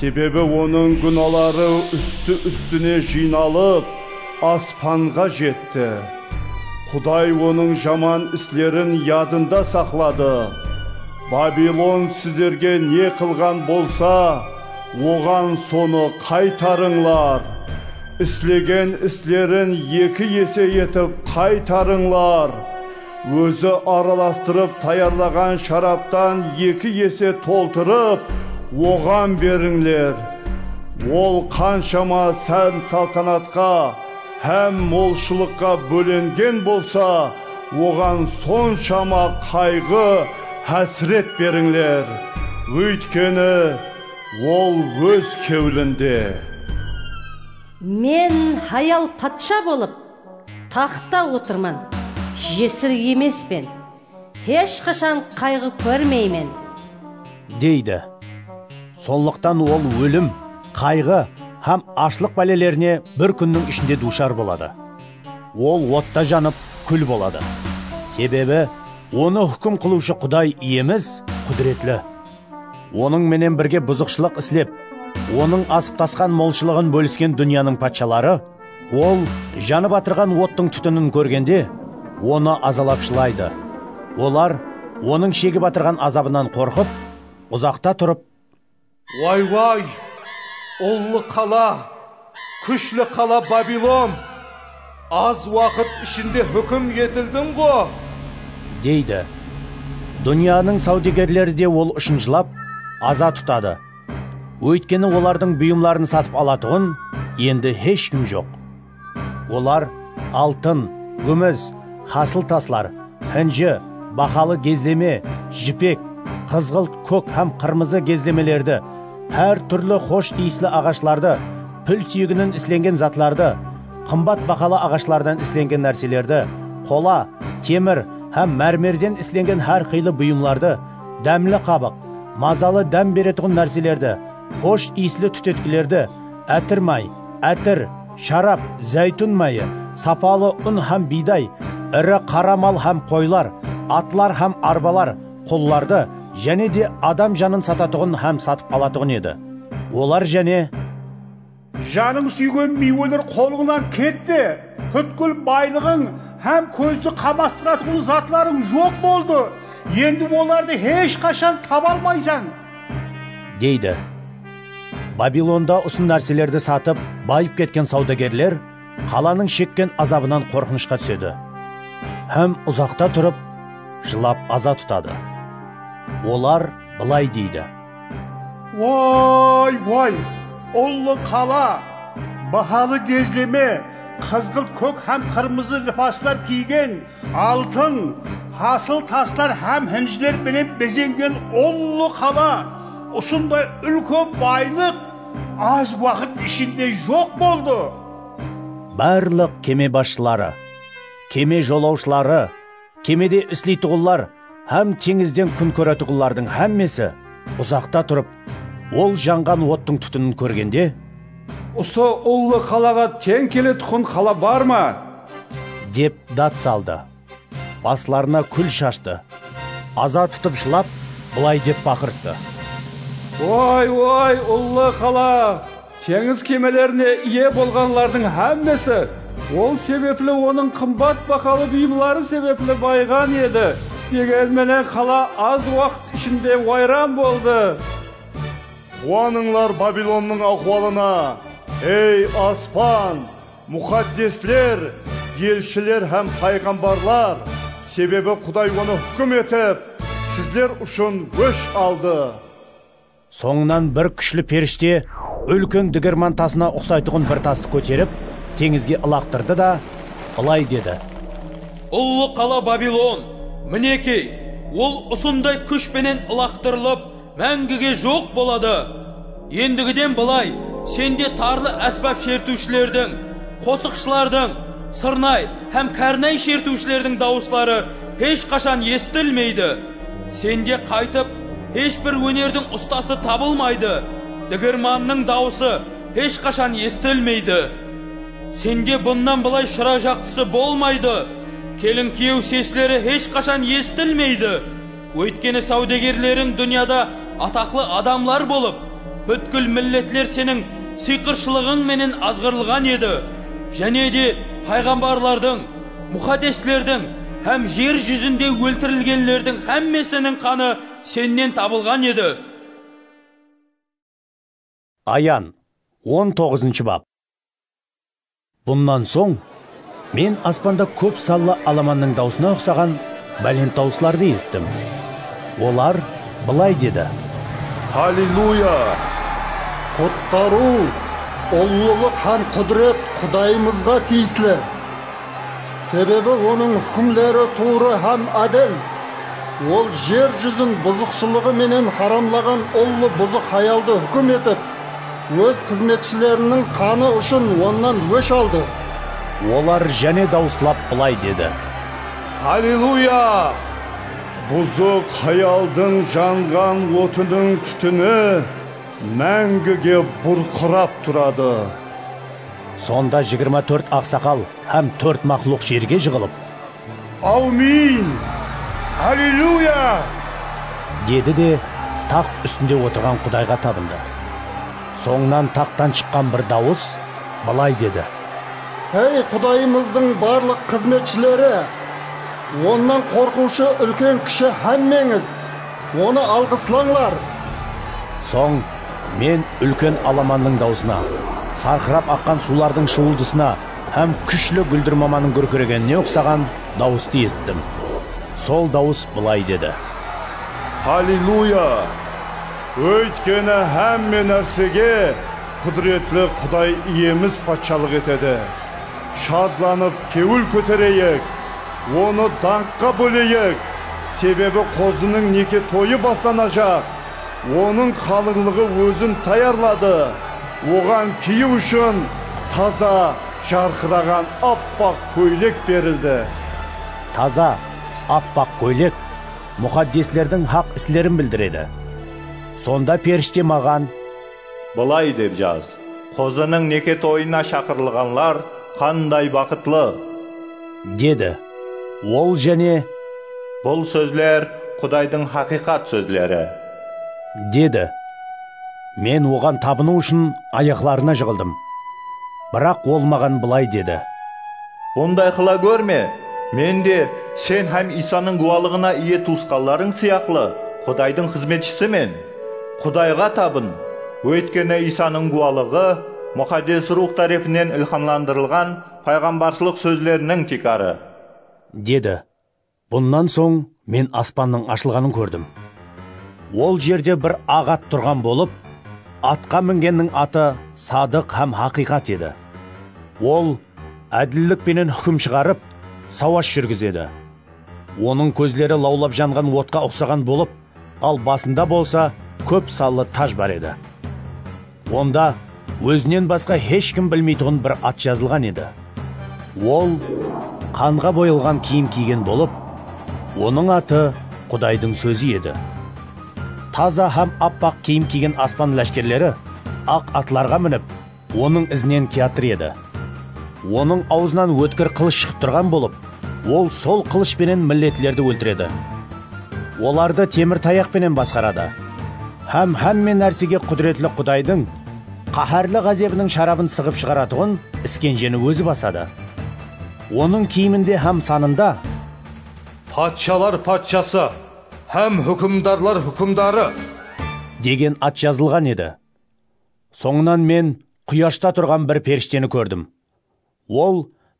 Sebebi onıń gúnaları ústi-ústine jıynalıp, aspanǵa jetti. Quday onıń jaman islerin yadında saqladı. Babilon sizlerge ne qılǵan bolsa, oǵan sonı qaytarıńlar. Islegen islerin eki ese etip qaytarıńlar. Ózi aralastırıp tayarlaǵan sharaptan eki ese toltırıp, oǵan berińler. Ol qanshama sán-saltanatqa hám molshılıqqa bólengen bolsa, oǵan sonshama qayǵı, hásiret berińler. Óytkeni, ol óz kewlinde. Men hayal patsha bolıp, Taxtta otırman, jesir emespen. Hesh qashan qayǵı kórmeymen. Deydi. Sonlıqtan ol ólim, qayǵı hám ashlıq bálelerine bir kúnniń ishinde duwshar boladı. Ol otta janıp, kúl boladı. Sebebi, onı húkim qılıwshı Quday Iyemiz qúdiretli. Onıń menen birge buzıqshılıq islep, Onıń asıp-tasqan molshılıǵın bólisken dúnyanıń patshaları, Ol janıp atırǵan ottıń tútinin kórgende, onı azalap jılaydı. Olar onıń shegip atırǵan azabınan qorqıp, uzaqta turıp. Way-way! Ullı qala, kúshli qala Babilon! Az waqıt ishinde húkim etildiń ǵo! Deydi. Dúnyanıń sáwdegerleri de ol ushın jılap, aza tutadı. Óytkeni olardıń buyımların satıp alatuǵın endi hesh kim joq. Olar altın, gúmis, hasıl taslar, hinji, bahalı gezleme, jipek, qızǵılt, kók hám qırmızı gezlemelerdi, hár túrli xosh iyisli aǵashlardı, pil súyeginen islengen zatlardı, qımbat bahalı aǵashlardan islengen nárselerdi, qola, temir hám mármerden islengen hár qıylı buyımlardı, dámli qabıq, mazalı dám beretuǵın nárselerdi, xosh iyisli tútetkilerdi, átir may, átir, sharap, záytún mayı, sapalı un hám biyday, iri qara mal hám qoylar, atlar hám arbalar, qullardı, jáne de adam janın satatuǵın hám satıp alatuǵın edi. Olar jáne. Janıń súygen miyweler qolıńnan ketti, pútkil baylıǵıń hám kózdi qamastıratuǵın zatlarıń joq boldı, endi olardı hesh qashan taba almaysań. Deydi. Babilonda usı nárselerdi satıp, bayıp ketken sawdagerler qalanıń shekken azabınan qorqınıshqa túsedi hám uzaqta turıp, jılap aza tutadı. Olar bılay deydi. Woy, woy, ullı qala! Bahalı gezleme, qızǵılt-kók hám qırmızı libaslar kiygen, altın, hasıl taslar hám hinjler penen bezengen ullı qala! Usınday úlken baylıq az waqıt ishinde joq boldı! Barlıq keme basshıları, keme jolawshıları, Kemede isleytuǵınlar hám teńizden kún kóretuǵınlardıń hámmesi uzaqta turıp, ol janǵan ottıń tútinin kórgende, Usı ullı qalaǵa teń keletuǵın qala bar ma? Dep dad saldı. Baslarına kúl shashtı. Aza tutıp jılap, bılay dep baqırıstı. Oy, oy, ullı qala! Teńiz kemelerine iye bolǵanlardıń hámmesi ol sebepli onıń qımbat bahalı buyımları sebepli bayıǵan edi, degen menen qala az waqıt ishinde wayran boldı. Quwanıńlar Babilonnıń áhwalına, ey aspan, muxaddesler, elshiler hám payǵambarlar, sebebi Quday onı húkim etip, sizler ushın ósh aldı. Sońınan bir kúshli perishte úlken digirman tasına uqsaytuǵın bir tastı kóterip, teńizge ılaqtırdı da, bılay dedi. Ullı qala Babilon! Minekey, ol usınday kúsh penen ılaqtırılıp, máńgige joq boladı! Endigiden bılay sende tarlı ásbap shertiwshilerdiń, qosıqshılardıń, sırnay hám kárnay shertiwshilerdiń dawısları hesh qashan esitilmeydi! Sende qaytıp hesh bir ónerdiń ustası tabılmaydı, digirmannıń dawısı hesh qashan esitilmeydi. Sende bunnan bılay shıra jaqtısı bolmaydı, kelin-kiyew sesleri hesh qashan esitilmeydi, óytkeni sáwdegerleriń dúnyada ataqlı adamlar bolıp, pútkil milletler seniń sıyqırshılıǵıń menen azǵırılǵan edi, jáne de payǵambarlardıń, Muxaddeslerdiń hám jer júzinde óltirilgenlerdiń hámmesiniń qanı sennen tabılǵan edi. Ayan, on toǵızınshı bap. Bunnan soń Men aspanda kóp sanlı alamannıń dawısına uqsaǵan bálent dawıslardı esittim. Olar bılay dedi. Halleluya! Qutqarıw, ullılıq hám qúdiret Qudayımızǵa tiyisli! Sebebi onıń húkimleri tuwrı hám ádil. Ol jer júzin buzıqshılıǵı menen haramlaǵan ullı buzıq hayaldı húkim etip, óz xızmetshileriniń qanı ushın onnan ósh aldı. Olar jáne dawıslap bılay dedi. Alleluya! Buzıq hayaldıń janǵan otınıń tútini máńgige burqırap turadı. Sonda jigirma tórt aqsaqal hám tórt maqluq jerge jıǵılıp. Áwmiyin! Allilyuya! Dedi de, taxt ústinde otırǵan Qudayǵa tabındı. Sońınan taxttan shıqqan bir dawıs bılay dedi. Ey Qudayımızdıń barlıq xızmetshileri, Onnan qorqıwshı úlken-kishi hámmeńiz! Onı alǵıslańlar! Soń Men úlken alamannıń dawısına, sarqırap aqqan suwlardıń shıwıldısına hám kúshli gúldirmamanıń gúrkiregenine uqsaǵan dawıstı esittim. Sol dawıs bılay dedi. Halleluya! Óytkeni hámme nársege Qúdiretli Quday Iyemiz patshalıq etedi. Shadlanıp kewil kótereyik, onı dańqqa bóleyik, sebebi Qozınıń neke toyı baslanajaq. Onıń qalıńlıǵı ózin tayarladı, oǵan kiyiw ushın taza, jarqıraǵan appaq kóylek berildi. Taza, appaq kóylek muxaddeslerdiń haq islerin bildiredi. Sonda perishte maǵan. Bılay dep jaz, Qozınıń neke toyına shaqırılǵanlar qanday baxıtlı! Dedi. Ol jáne. Bul sózler Qudaydıń haqıyqat sózleri. Dedi. Men Oǵan tabınıw ushın ayaqlarına jıǵıldım. Biraq Ol maǵan bılay dedi. Bunday qıla górme! Men de sen hám Iysanıń gúwalıǵına iye tuwısqanlarıń sıyaqlı Qudaydıń xızmetshisimen. Qudayǵa tabın, óytkeni Iysanıń gúwalıǵı Muxaddes Ruwx tárepinen ilxamlandırılǵan payǵambarshılıq sózleriniń tiykarı. Dedi. Bunnan soń men aspannıń ashılǵanın kórdim. Ol jerde bir aq at turǵan bolıp, atqa mingenniń atı Sadıq hám Haqıyqat edi. Ol ádillik penen húkim shıǵarıp, sawash júrgizedi. Onıń kózleri lawlap janǵan otqa uqsaǵan bolıp, Al basında bolsa kóp sanlı taj bar edi. Onda ózinen basqa hesh kim bilmeytuǵın bir at jazılǵan edi. Ol qanǵa boyalǵan kiyim kiygen bolıp, onıń atı Qudaydıń sózi edi. Taza hám appaq kiyim kiygen aspan láshkerleri aq atlarǵa minip, Onıń izinen kiyatır edi. Onıń awzınan ótkir qılısh shıǵıp turǵan bolıp, ol sol qılısh penen milletlerdi óltiredi. Olardı temir tayaq penen basqaradı. Hám hámme nársege qúdiretli Qudaydıń qáhárli ǵázebiniń sharabın sıǵıp shıǵaratuǵın iskenjeni ózi basadı. Onıń kiyiminde hám sanında. Patshalar Patshası hám húkimdarlar húkimdarı. Degen at jazılǵan edi. Sońınan men quyashta turǵan bir perishteni kórdim. Ol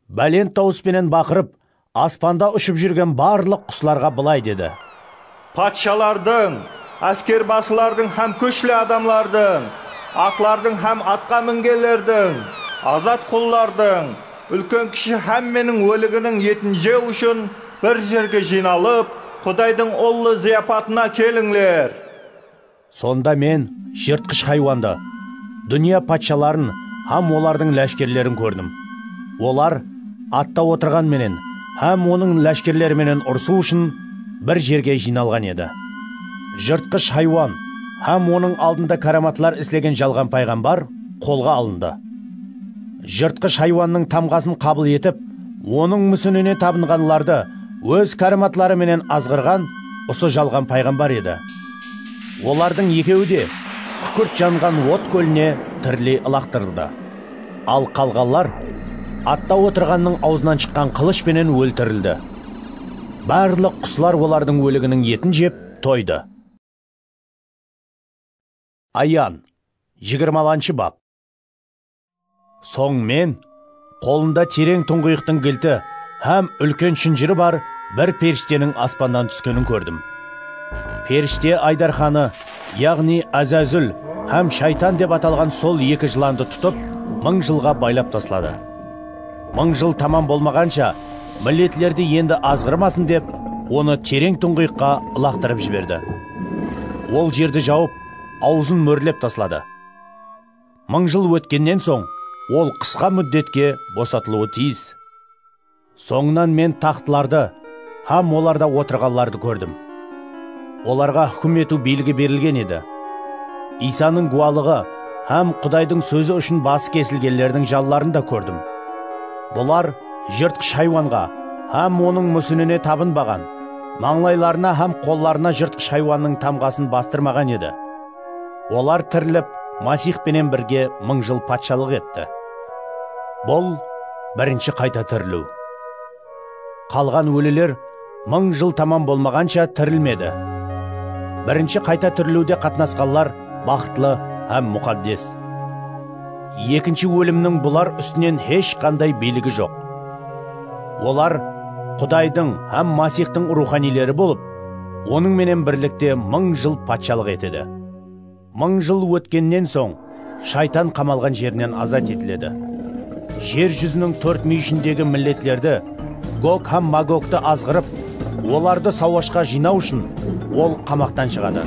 bálent dawıs penen baqırıp, aspanda ushıp júrgen barlıq quslarǵa bılay dedi. Patshalardıń, áskerbasılardıń hám kúshli adamlardıń, atlardıń hám atqa mingenlerdiń, azat qullardıń, úlken-kishi hámmeniń óliginiń etin jew ushın bir jerge jıynalıp, Qudaydıń ullı zıyapatına kelińler! Sonda Men jırtqısh haywandı, dúnya patshaların hám olardıń láshkerlerin kórdim. Olar atta otırǵan menen hám onıń láshkerleri menen urısıw ushın bir jerge jıynalǵan edi. Jırtqısh haywan hám onıń aldında káramatlar islegen jalǵan payǵambar qolǵa alındı. Jırtqısh haywannıń tamǵasın qabıl etip, onıń músinine tabınǵanlardı óz káramatları menen azǵırǵan usı jalǵan payǵambar edi. Olardıń ekewi de kúkirt janǵan ot kóline tiriley ılaqtırıldı. Al qalǵanlar atta otırǵannıń awzınan shıqqan qılısh penen óltirildi. Barlıq quslar olardıń óliginiń etin jep toydı. Ayan, jigirmalanshı bap. Soń men qolında tereń tuńǵıyıqtıń gilti hám úlken shınjırı bar bir perishteniń aspannan túskenin kórdim. Perishtye Aydarxanı, yaǵnıy Ázázúl hám Shaytan dep atalǵan sol eki jılandı tutıp, mıń jılǵa baylap tasladı. Mıń jıl tamam bolmaǵansha, milletlerdi endi azǵırmasın dep, onı tereń tuńǵıyıqqa ılaqtırıp jiberdi. Ol jerdi jawıp, awzın mórlep tasladı. mıń jıl ótkennen soń ol qısqa múddetke bosatılıwı tiyis. Sońınan men taxtlardı hám olarda otırǵanlardı kórdim. Olarǵa húkim etiw biyligi berilgen edi. Iysanıń guwalıǵı hám Qudaydıń sózi ushın bası kesilgenlerdiń janların da kórdim. Bular jırtqısh haywanǵa hám onıń músinine tabınbaǵan, mańlaylarına hám qollarına jırtqısh haywannıń tamǵasın bastırmaǵan edi. Olar tirilip, Masix penen birge mıń jıl patshalıq etti. Bul birinshi qayta tiriliw. Qalǵan óliler mıń jıl tamam bolmaǵansha tirilmedi. Birinshi qayta tiriliwde qatnasqanlar baxıtlı hám muqaddes. Ekinshi ólimniń bular ústinen hesh qanday biyligi joq. Olar Qudaydıń hám Masixtıń ruwxaniyleri bolıp, Onıń menen birlikte mıń jıl patshalıq etedi. Mıń jıl ótkennen soń, Shaytan qamalǵan jerinen azat etiledi. Jer júziniń tórt múyishindegi milletlerdi, Gog hám Magogtı azǵırıp, olardı sawashqa jıynaw ushın ol qamaqtan shıǵadı.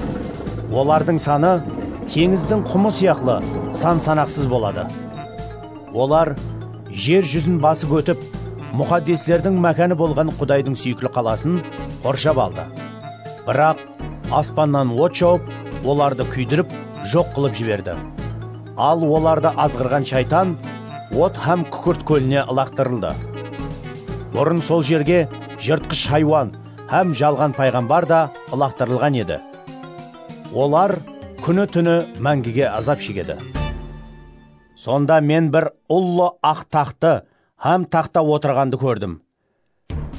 Olardıń sanı teńizdiń qumı sıyaqlı san-sanaqsız boladı. Olar jer júzin basıp ótip, muxaddeslerdiń mákanı bolǵan Qudaydıń súyikli qalasın qorshap aldı. Biraq aspannan ot jawıp, olardı kúydirip, joq qılıp jiberdi. Al olardı azǵırǵan Shaytan Ot hám kúkirt kóline ılaqtırıldı. Burın sol jerge jırtqısh haywan hám jalǵan payǵambar da ılaqtırılǵan edi. Olar kúni-túni máńgige azap shegedi. Sonda men bir ullı aq taxtı hám taxta otırǵandı kórdim.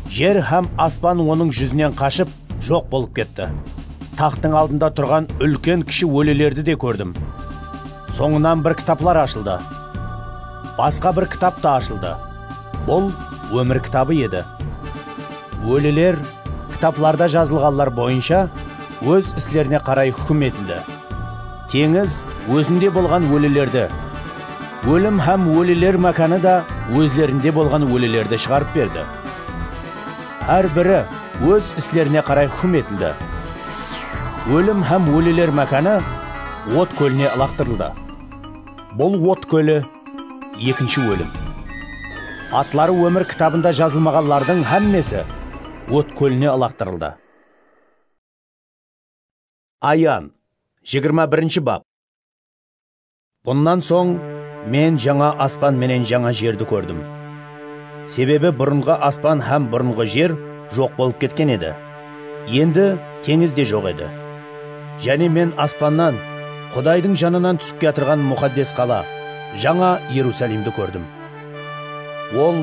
Jer hám aspan onıń júzinen qashıp, joq bolıp ketti. Taxtıń aldında turǵan úlken-kishi ólilerdi de kórdim. Sońınan bir kitaplar ashıldı. Basqa bir kitap ta ashıldı. Bul Ómir kitabı edi. Óliler kitaplarda jazılǵanlar boyınsha óz islerine qaray húkim etildi. Teńiz ózinde bolǵan ólilerdi, ólim hám óliler mákanı da ózlerinde bolǵan ólilerdi shıǵarıp berdi. Hár biri óz islerine qaray húkim etildi. Ólim hám óliler mákanı ot kóline ılaqtırıldı. Bul ot kóli, ekinshi ólim. Atları ómir kitabında jazılmaǵanlardıń hámmesi ot kóline ılaqtırıldı. Ayan, jigirma birinshi bap. Bunnan soń Men jańa aspan menen jańa jerdi kórdim. Sebebi burınǵı aspan hám burınǵı jer joq bolıp ketken edi, endi teńiz de joq edi. Jáne Men aspannan Qudaydıń janınan túsip kiyatırǵan muxaddes qala, jańa Erusalimdi kórdim. Ol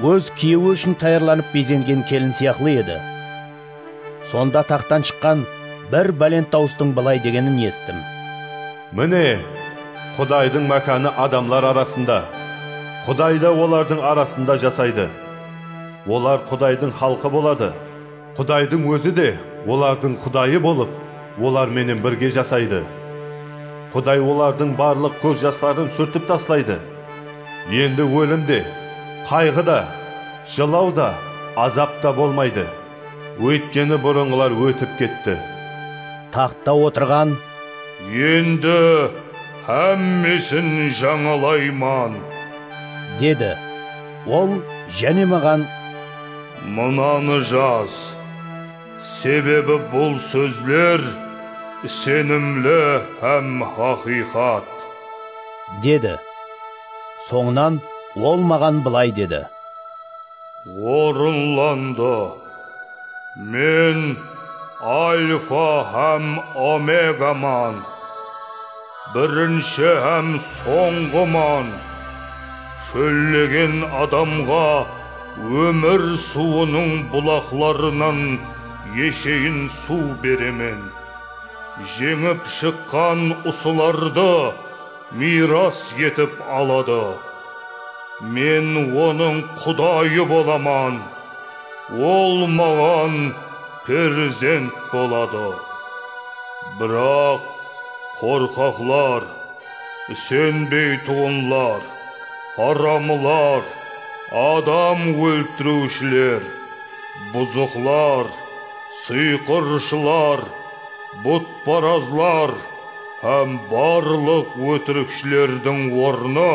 óz kiyewi ushın tayarlanıp bezengen kelin sıyaqlı edi. Sonda taxtan shıqqan bir bálent dawıstıń bılay degenin esittim. Mine, Qudaydıń mákanı adamlar arasında, Quday da olardıń arasında jasaydı. Olar Qudaydıń xalqı boladı, Qudaydıń Ózi de olardıń Qudayı bolıp, olar menen birge jasaydı. Quday olardıń barlıq kóz jasların súrtip taslaydı. Endi ólim de, qayǵı da. Jılaw da, azap ta bolmaydı, óytkeni burınǵılar ótip ketti. Taxtta otırǵan. Endi hámmesin jańalayman. Dedi. Ol jáne maǵan. Mınanı jaz. Sebebi bul sózler isenimli hám haqıyqat. Dedi. Sońınan Ol maǵan bılay dedi. Orınlandı. Men Alfa hám Omegaman, Birinshi hám Sońǵıman. Shóllegen adamǵa ómir suwınıń bulaqlarınan esheyin suw beremen. Jeńip shıqqan usılardı. Miyras etip aladı. Men onıń Qudayı bolaman, ol maǵan perzent boladı. Biraq qorqaqlar, isenbeytuǵınlar, haramlar, adam óltiriwshiler, buzıqlar, sıyqırshılar, butparazlar, Hám barlıq ótirikshilerdiń ornı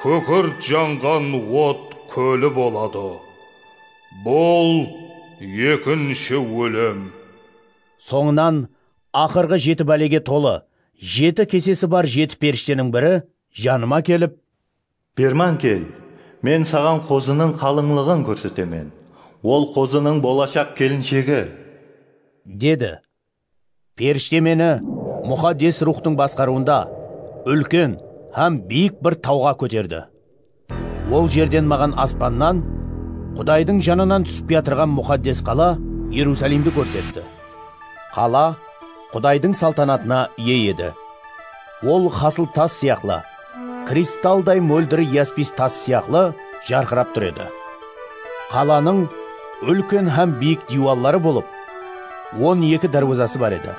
kúkirt janǵan ot kóli boladı. Bul ekinshi ólim. Sońınan aqırǵı jeti bálege tolı, jeti kesesi bar jeti perishteniń biri janıma kelip. Berman kel, men saǵan qozınıń qalıńlıǵın kórsetemen. Ol qozınıń bolashaq kelinshegi. Dedi. Perishte meni Muxaddes Ruwxtıń basqarıwında úlken hám biyik bir tawǵa kóterdi. Ol jerden maǵan aspannan Qudaydıń janınan túsip kiyatırǵan muxaddes qala Erusalimdi kórsetti. Qala Qudaydıń saltanatına iye edi. Ol hasıl tas sıyaqlı, kristalday móldir yaspis tas sıyaqlı jarqırap tur edi. Qalanıń úlken hám biyik diywalları bolıp, on eki dárwazası bar edi.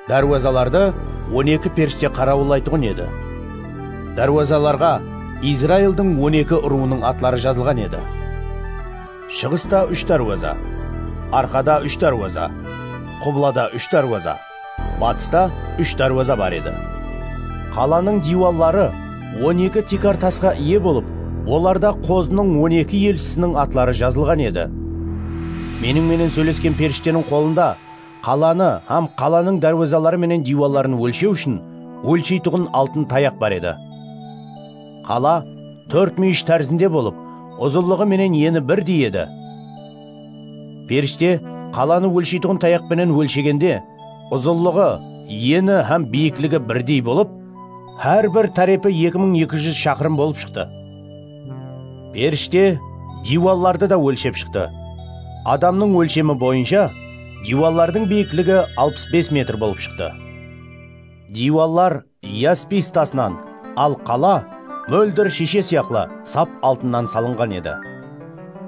Dárwazalardı on eki perishte qarawıllaytuǵın edi. Dárwazalarǵa Izraildıń on eki urıwınıń atları jazılǵan edi. Shıǵısta úsh dárwaza, arqada úsh dárwaza, qublada úsh dárwaza. Batısta úsh dárwaza bar edi. Qalanıń diywalları on eki tiykar tasqa iye bolıp, olarda Qozınıń on eki elshisiniń atları jazılǵan edi. Meniń menen sóylesken perishteniń qolında qalanı hám qalanıń dárwazaları menen diywalların ólshew ushın ólsheytuǵın altın tayaq bar edi. Qala tórt múyish tárzinde bolıp, uzınlıǵı menen eni birdey edi. Perishte qalanı ólsheytuǵın tayaq penen ólshegende, uzınlıǵı, eni hám biyikligi birdey bolıp, hár bir tárepi eki mıń eki júz shaqırım bolıp shıqtı. Perishte diywallardı da ólshep shıqtı. Adamnıń ólshemi boyınsha diywallardıń biyikligi alpıs bes metr bolıp shıqtı. Diywallar Yaspiy tasınan, al qala móldir shiyshe sıyaqlı sap altınnan salınǵan edi.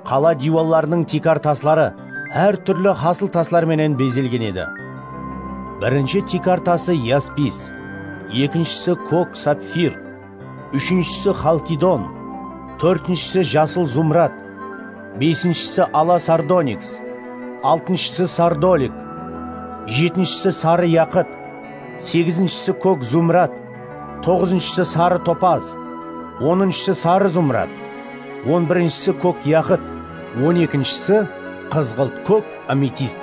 Qala diywallarınıń tiykar tasları hár túrli hasıl taslar menen bezelgen edi. Birinshi tiykar tası yaspis, ekinshisi kók sapfir, úshinshisi xalkidon, tórtinshisi jasıl zumrad, besinshisi ala sardoniks, altınshısı sardolik, jetinshisi sarı yaqıt, segizinshisi kók zumrad, toǵızınshısı sarı topaz, onınshısı sarı zumrad, on birinshisi kók yaqıt, on ekinshisi qızǵılt kók ametist.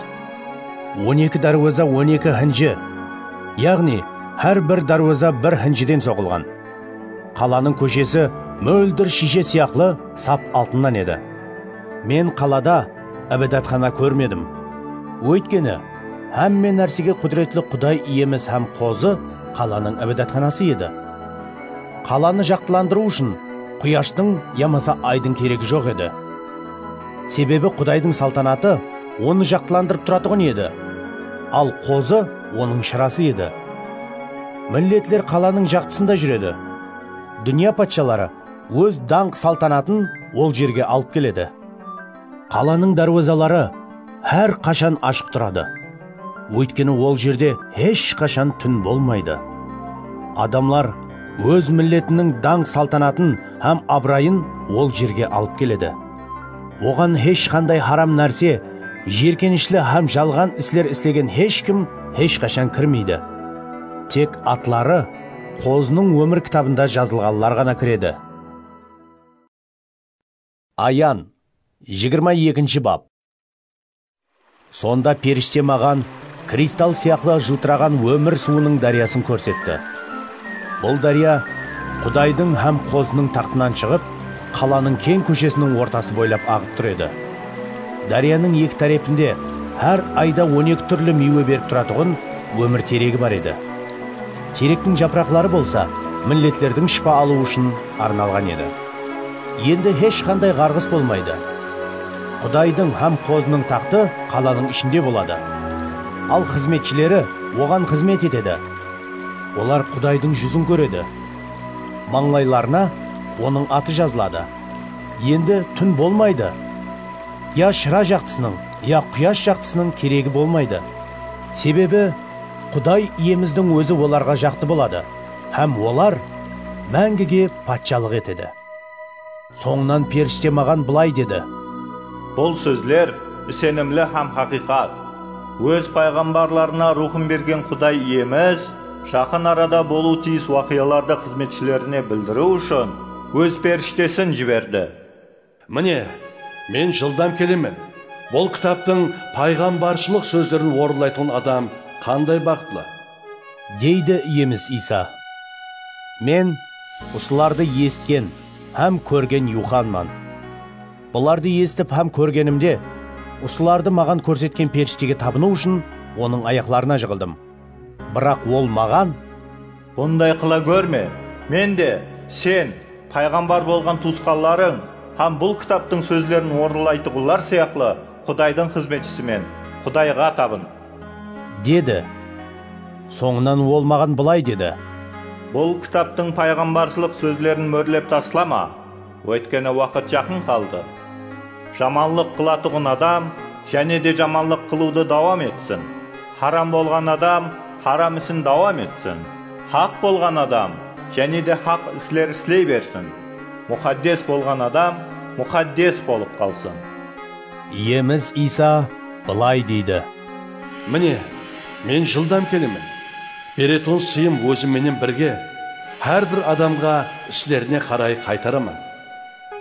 On eki dárweza on eki hinji, yaǵnıy hár bir dárweza bir hinjiden soǵılǵan. Qalanıń kóshesi móldir shiyshe sıyaqlı sap altınnan edi. Men qalada. Ibadatxana kórmedim. Óytkeni, hámme nársege qúdiretli Quday Iyemiz hám Qozı qalanıń ibadatxanası edi. Qalanı jaqtılandırıw ushın quyashtıń yamasa aydıń keregi joq edi. Sebebi Qudaydıń saltanatı onı jaqtılandırıp turatuǵın edi, al Qozı onıń shırası edi. Milletler qalanıń jaqtısında júredi. Dúnya patshaları óz dańq-saltanatın ol jerge alıp keledi. Qalanıń dárwazaları hár qashan ashıq turadı, óytkeni ol jerde hesh qashan tún bolmaydı. Adamlar óz milletiniń dańq-saltanatın hám abırayın ol jerge alıp keledi. Oǵan hesh qanday haram nárse, jiyirkenishli hám jalǵan isler islegen hesh kim hesh qashan kirmeydi. Tek atları Qozınıń ómir kitabında jazılǵanlar ǵana kiredi. Ayan, jigirma ekinshi bap. Sonda perishte maǵan kristal sıyaqlı jıltıraǵan ómir suwınıń dáryasın kórsetti. Bul dárya Qudaydıń hám Qozınıń taxtınan shıǵıp, qalanıń keń kóshesiniń ortası boylap aǵıp tur edi. Dáryanıń eki tárepinde hár ayda on eki túrli miywe berip turatuǵın ómir teregi bar edi. Terektiń japıraqları bolsa milletlerdiń shıpa alıwı ushın arnalǵan edi. Endi hesh qanday ǵarǵıs bolmaydı. Qudaydıń hám Qozınıń taxtı qalanıń ishinde boladı. Al xızmetshileri oǵan xızmet etedi. Olar Qudaydıń júzin kóredi. Mańlaylarına Onıń atı jazıladı. Endi tún bolmaydı. Ya shıra jaqtısınıń, ya quyash jaqtısınıń keregi bolmaydı. Sebebi Quday Iyemizdiń Ózi olarǵa jaqtı boladı. Hám olar máńgige patshalıq etedi. Sońınan perishte maǵan bılay dedi. Bul sózler isenimli hám haqıyqat. Óz payǵambarlarına ruwxın bergen Quday Iyemiz jaqın arada bolıwı tiyis waqıyalardı xızmetshilerine bildiriw ushın Óz perishtesin jiberdi. Mine, Men jıldam kelemen. Bul kitaptıń payǵambarshılıq sózlerin orınlaytuǵın adam qanday baxıtlı! Deydi Iyemiz Iysa. Men usılardı esitken hám kórgen Yuxanman. Bulardı esitip hám kórgenimde, usılardı maǵan kórsetken perishtege tabınıw ushın onıń ayaqlarına jıǵıldım. Biraq ol maǵan. Bunday qıla górme, men de, sen, payǵambar bolǵan tuwısqanlarıń hám bul kitaptıń sózlerin orınlaytuǵınlar sıyaqlı Qudaydıń xızmetshisimen, Qudayǵa tabın! Dedi. Sońınan ol maǵan bılay dedi. Bul kitaptıń payǵambarshılıq sózlerin mórlep taslama. Óytkeni waqıt jaqın qaldı. Jamanlıq qılatuǵın adam jáne de jamanlıq qılıwdı dawam etsin, haram bolǵan adam haram isin dawam etsin, haq bolǵan adam jáne de haq isler isley bersin, muxaddes bolǵan adam muxaddes bolıp qalsın. Iyemiz Iysa bılay deydi. Mine, Men jıldam kelemen. Bereton sıyım Ózim menen birge, hár bir adamǵa islerine qaray qaytaraman.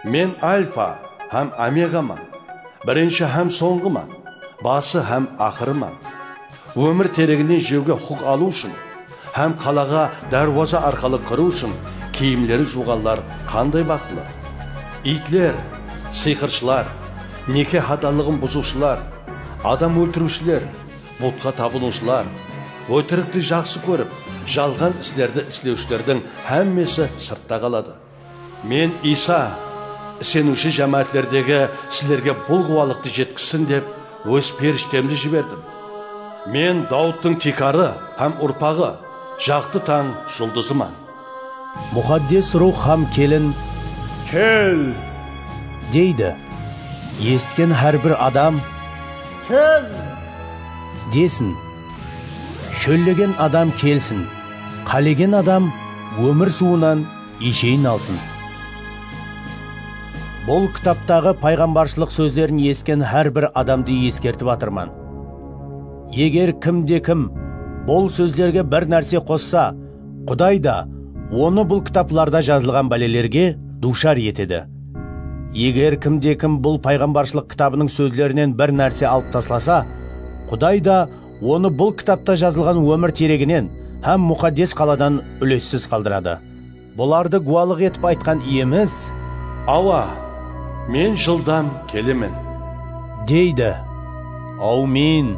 Men Alfa hám Omegaman, birinshi hám sońǵıman, bası hám aqırıman. Ómir tereginen jewge huqıq alıw ushın hám qalaǵa dárwaza arqalı kiriw ushın kiyimleri juwǵanlar qanday baxıtlı! Iytler, sıyqırshılar, neke hadanlıǵın buzıwshılar, adam óltiriwshiler, butqa tabınıwshılar, ótirikti jaqsı kórip, jalǵan islerdi islewshilerdiń hámmesi sırtta qaladı. Men Iysa, iseniwshi jámáátlerdegi sizlerge bul gúwalıqtı jetkizsin dep, Óz perishtemdi jiberdim. Men Dawıttıń tiykarı hám urpaǵı, jaqtı tań juldızıman. Muxaddes Ruwx hám kelin, Kel! Deydi. Esitken hár bir adam, Kel! Desin. Shóllegen adam kelsin, qálegen adam ómir suwınan isheyin alsın. Bul kitaptaǵı payǵambarshılıq sózlerin esitken hár bir adamdı eskertip atırman. Eger kim de kim bul sózlerge bir nárse qossa, Quday da Onı bul kitaplarda jazılǵan bálelerge duwshar etedi. Eger kimde-kim bul payǵambarshılıq kitabınıń sózlerinen bir nárse alıp taslasa, Quday da onı bul kitapta jazılǵan ómir tereginen hám Muxaddes qaladan úlessiz qaldıradı. Bulardı guwalıq etip aytqan Iyemiz. Awa, Men jıldan kelemen. Deydi. Áwmin!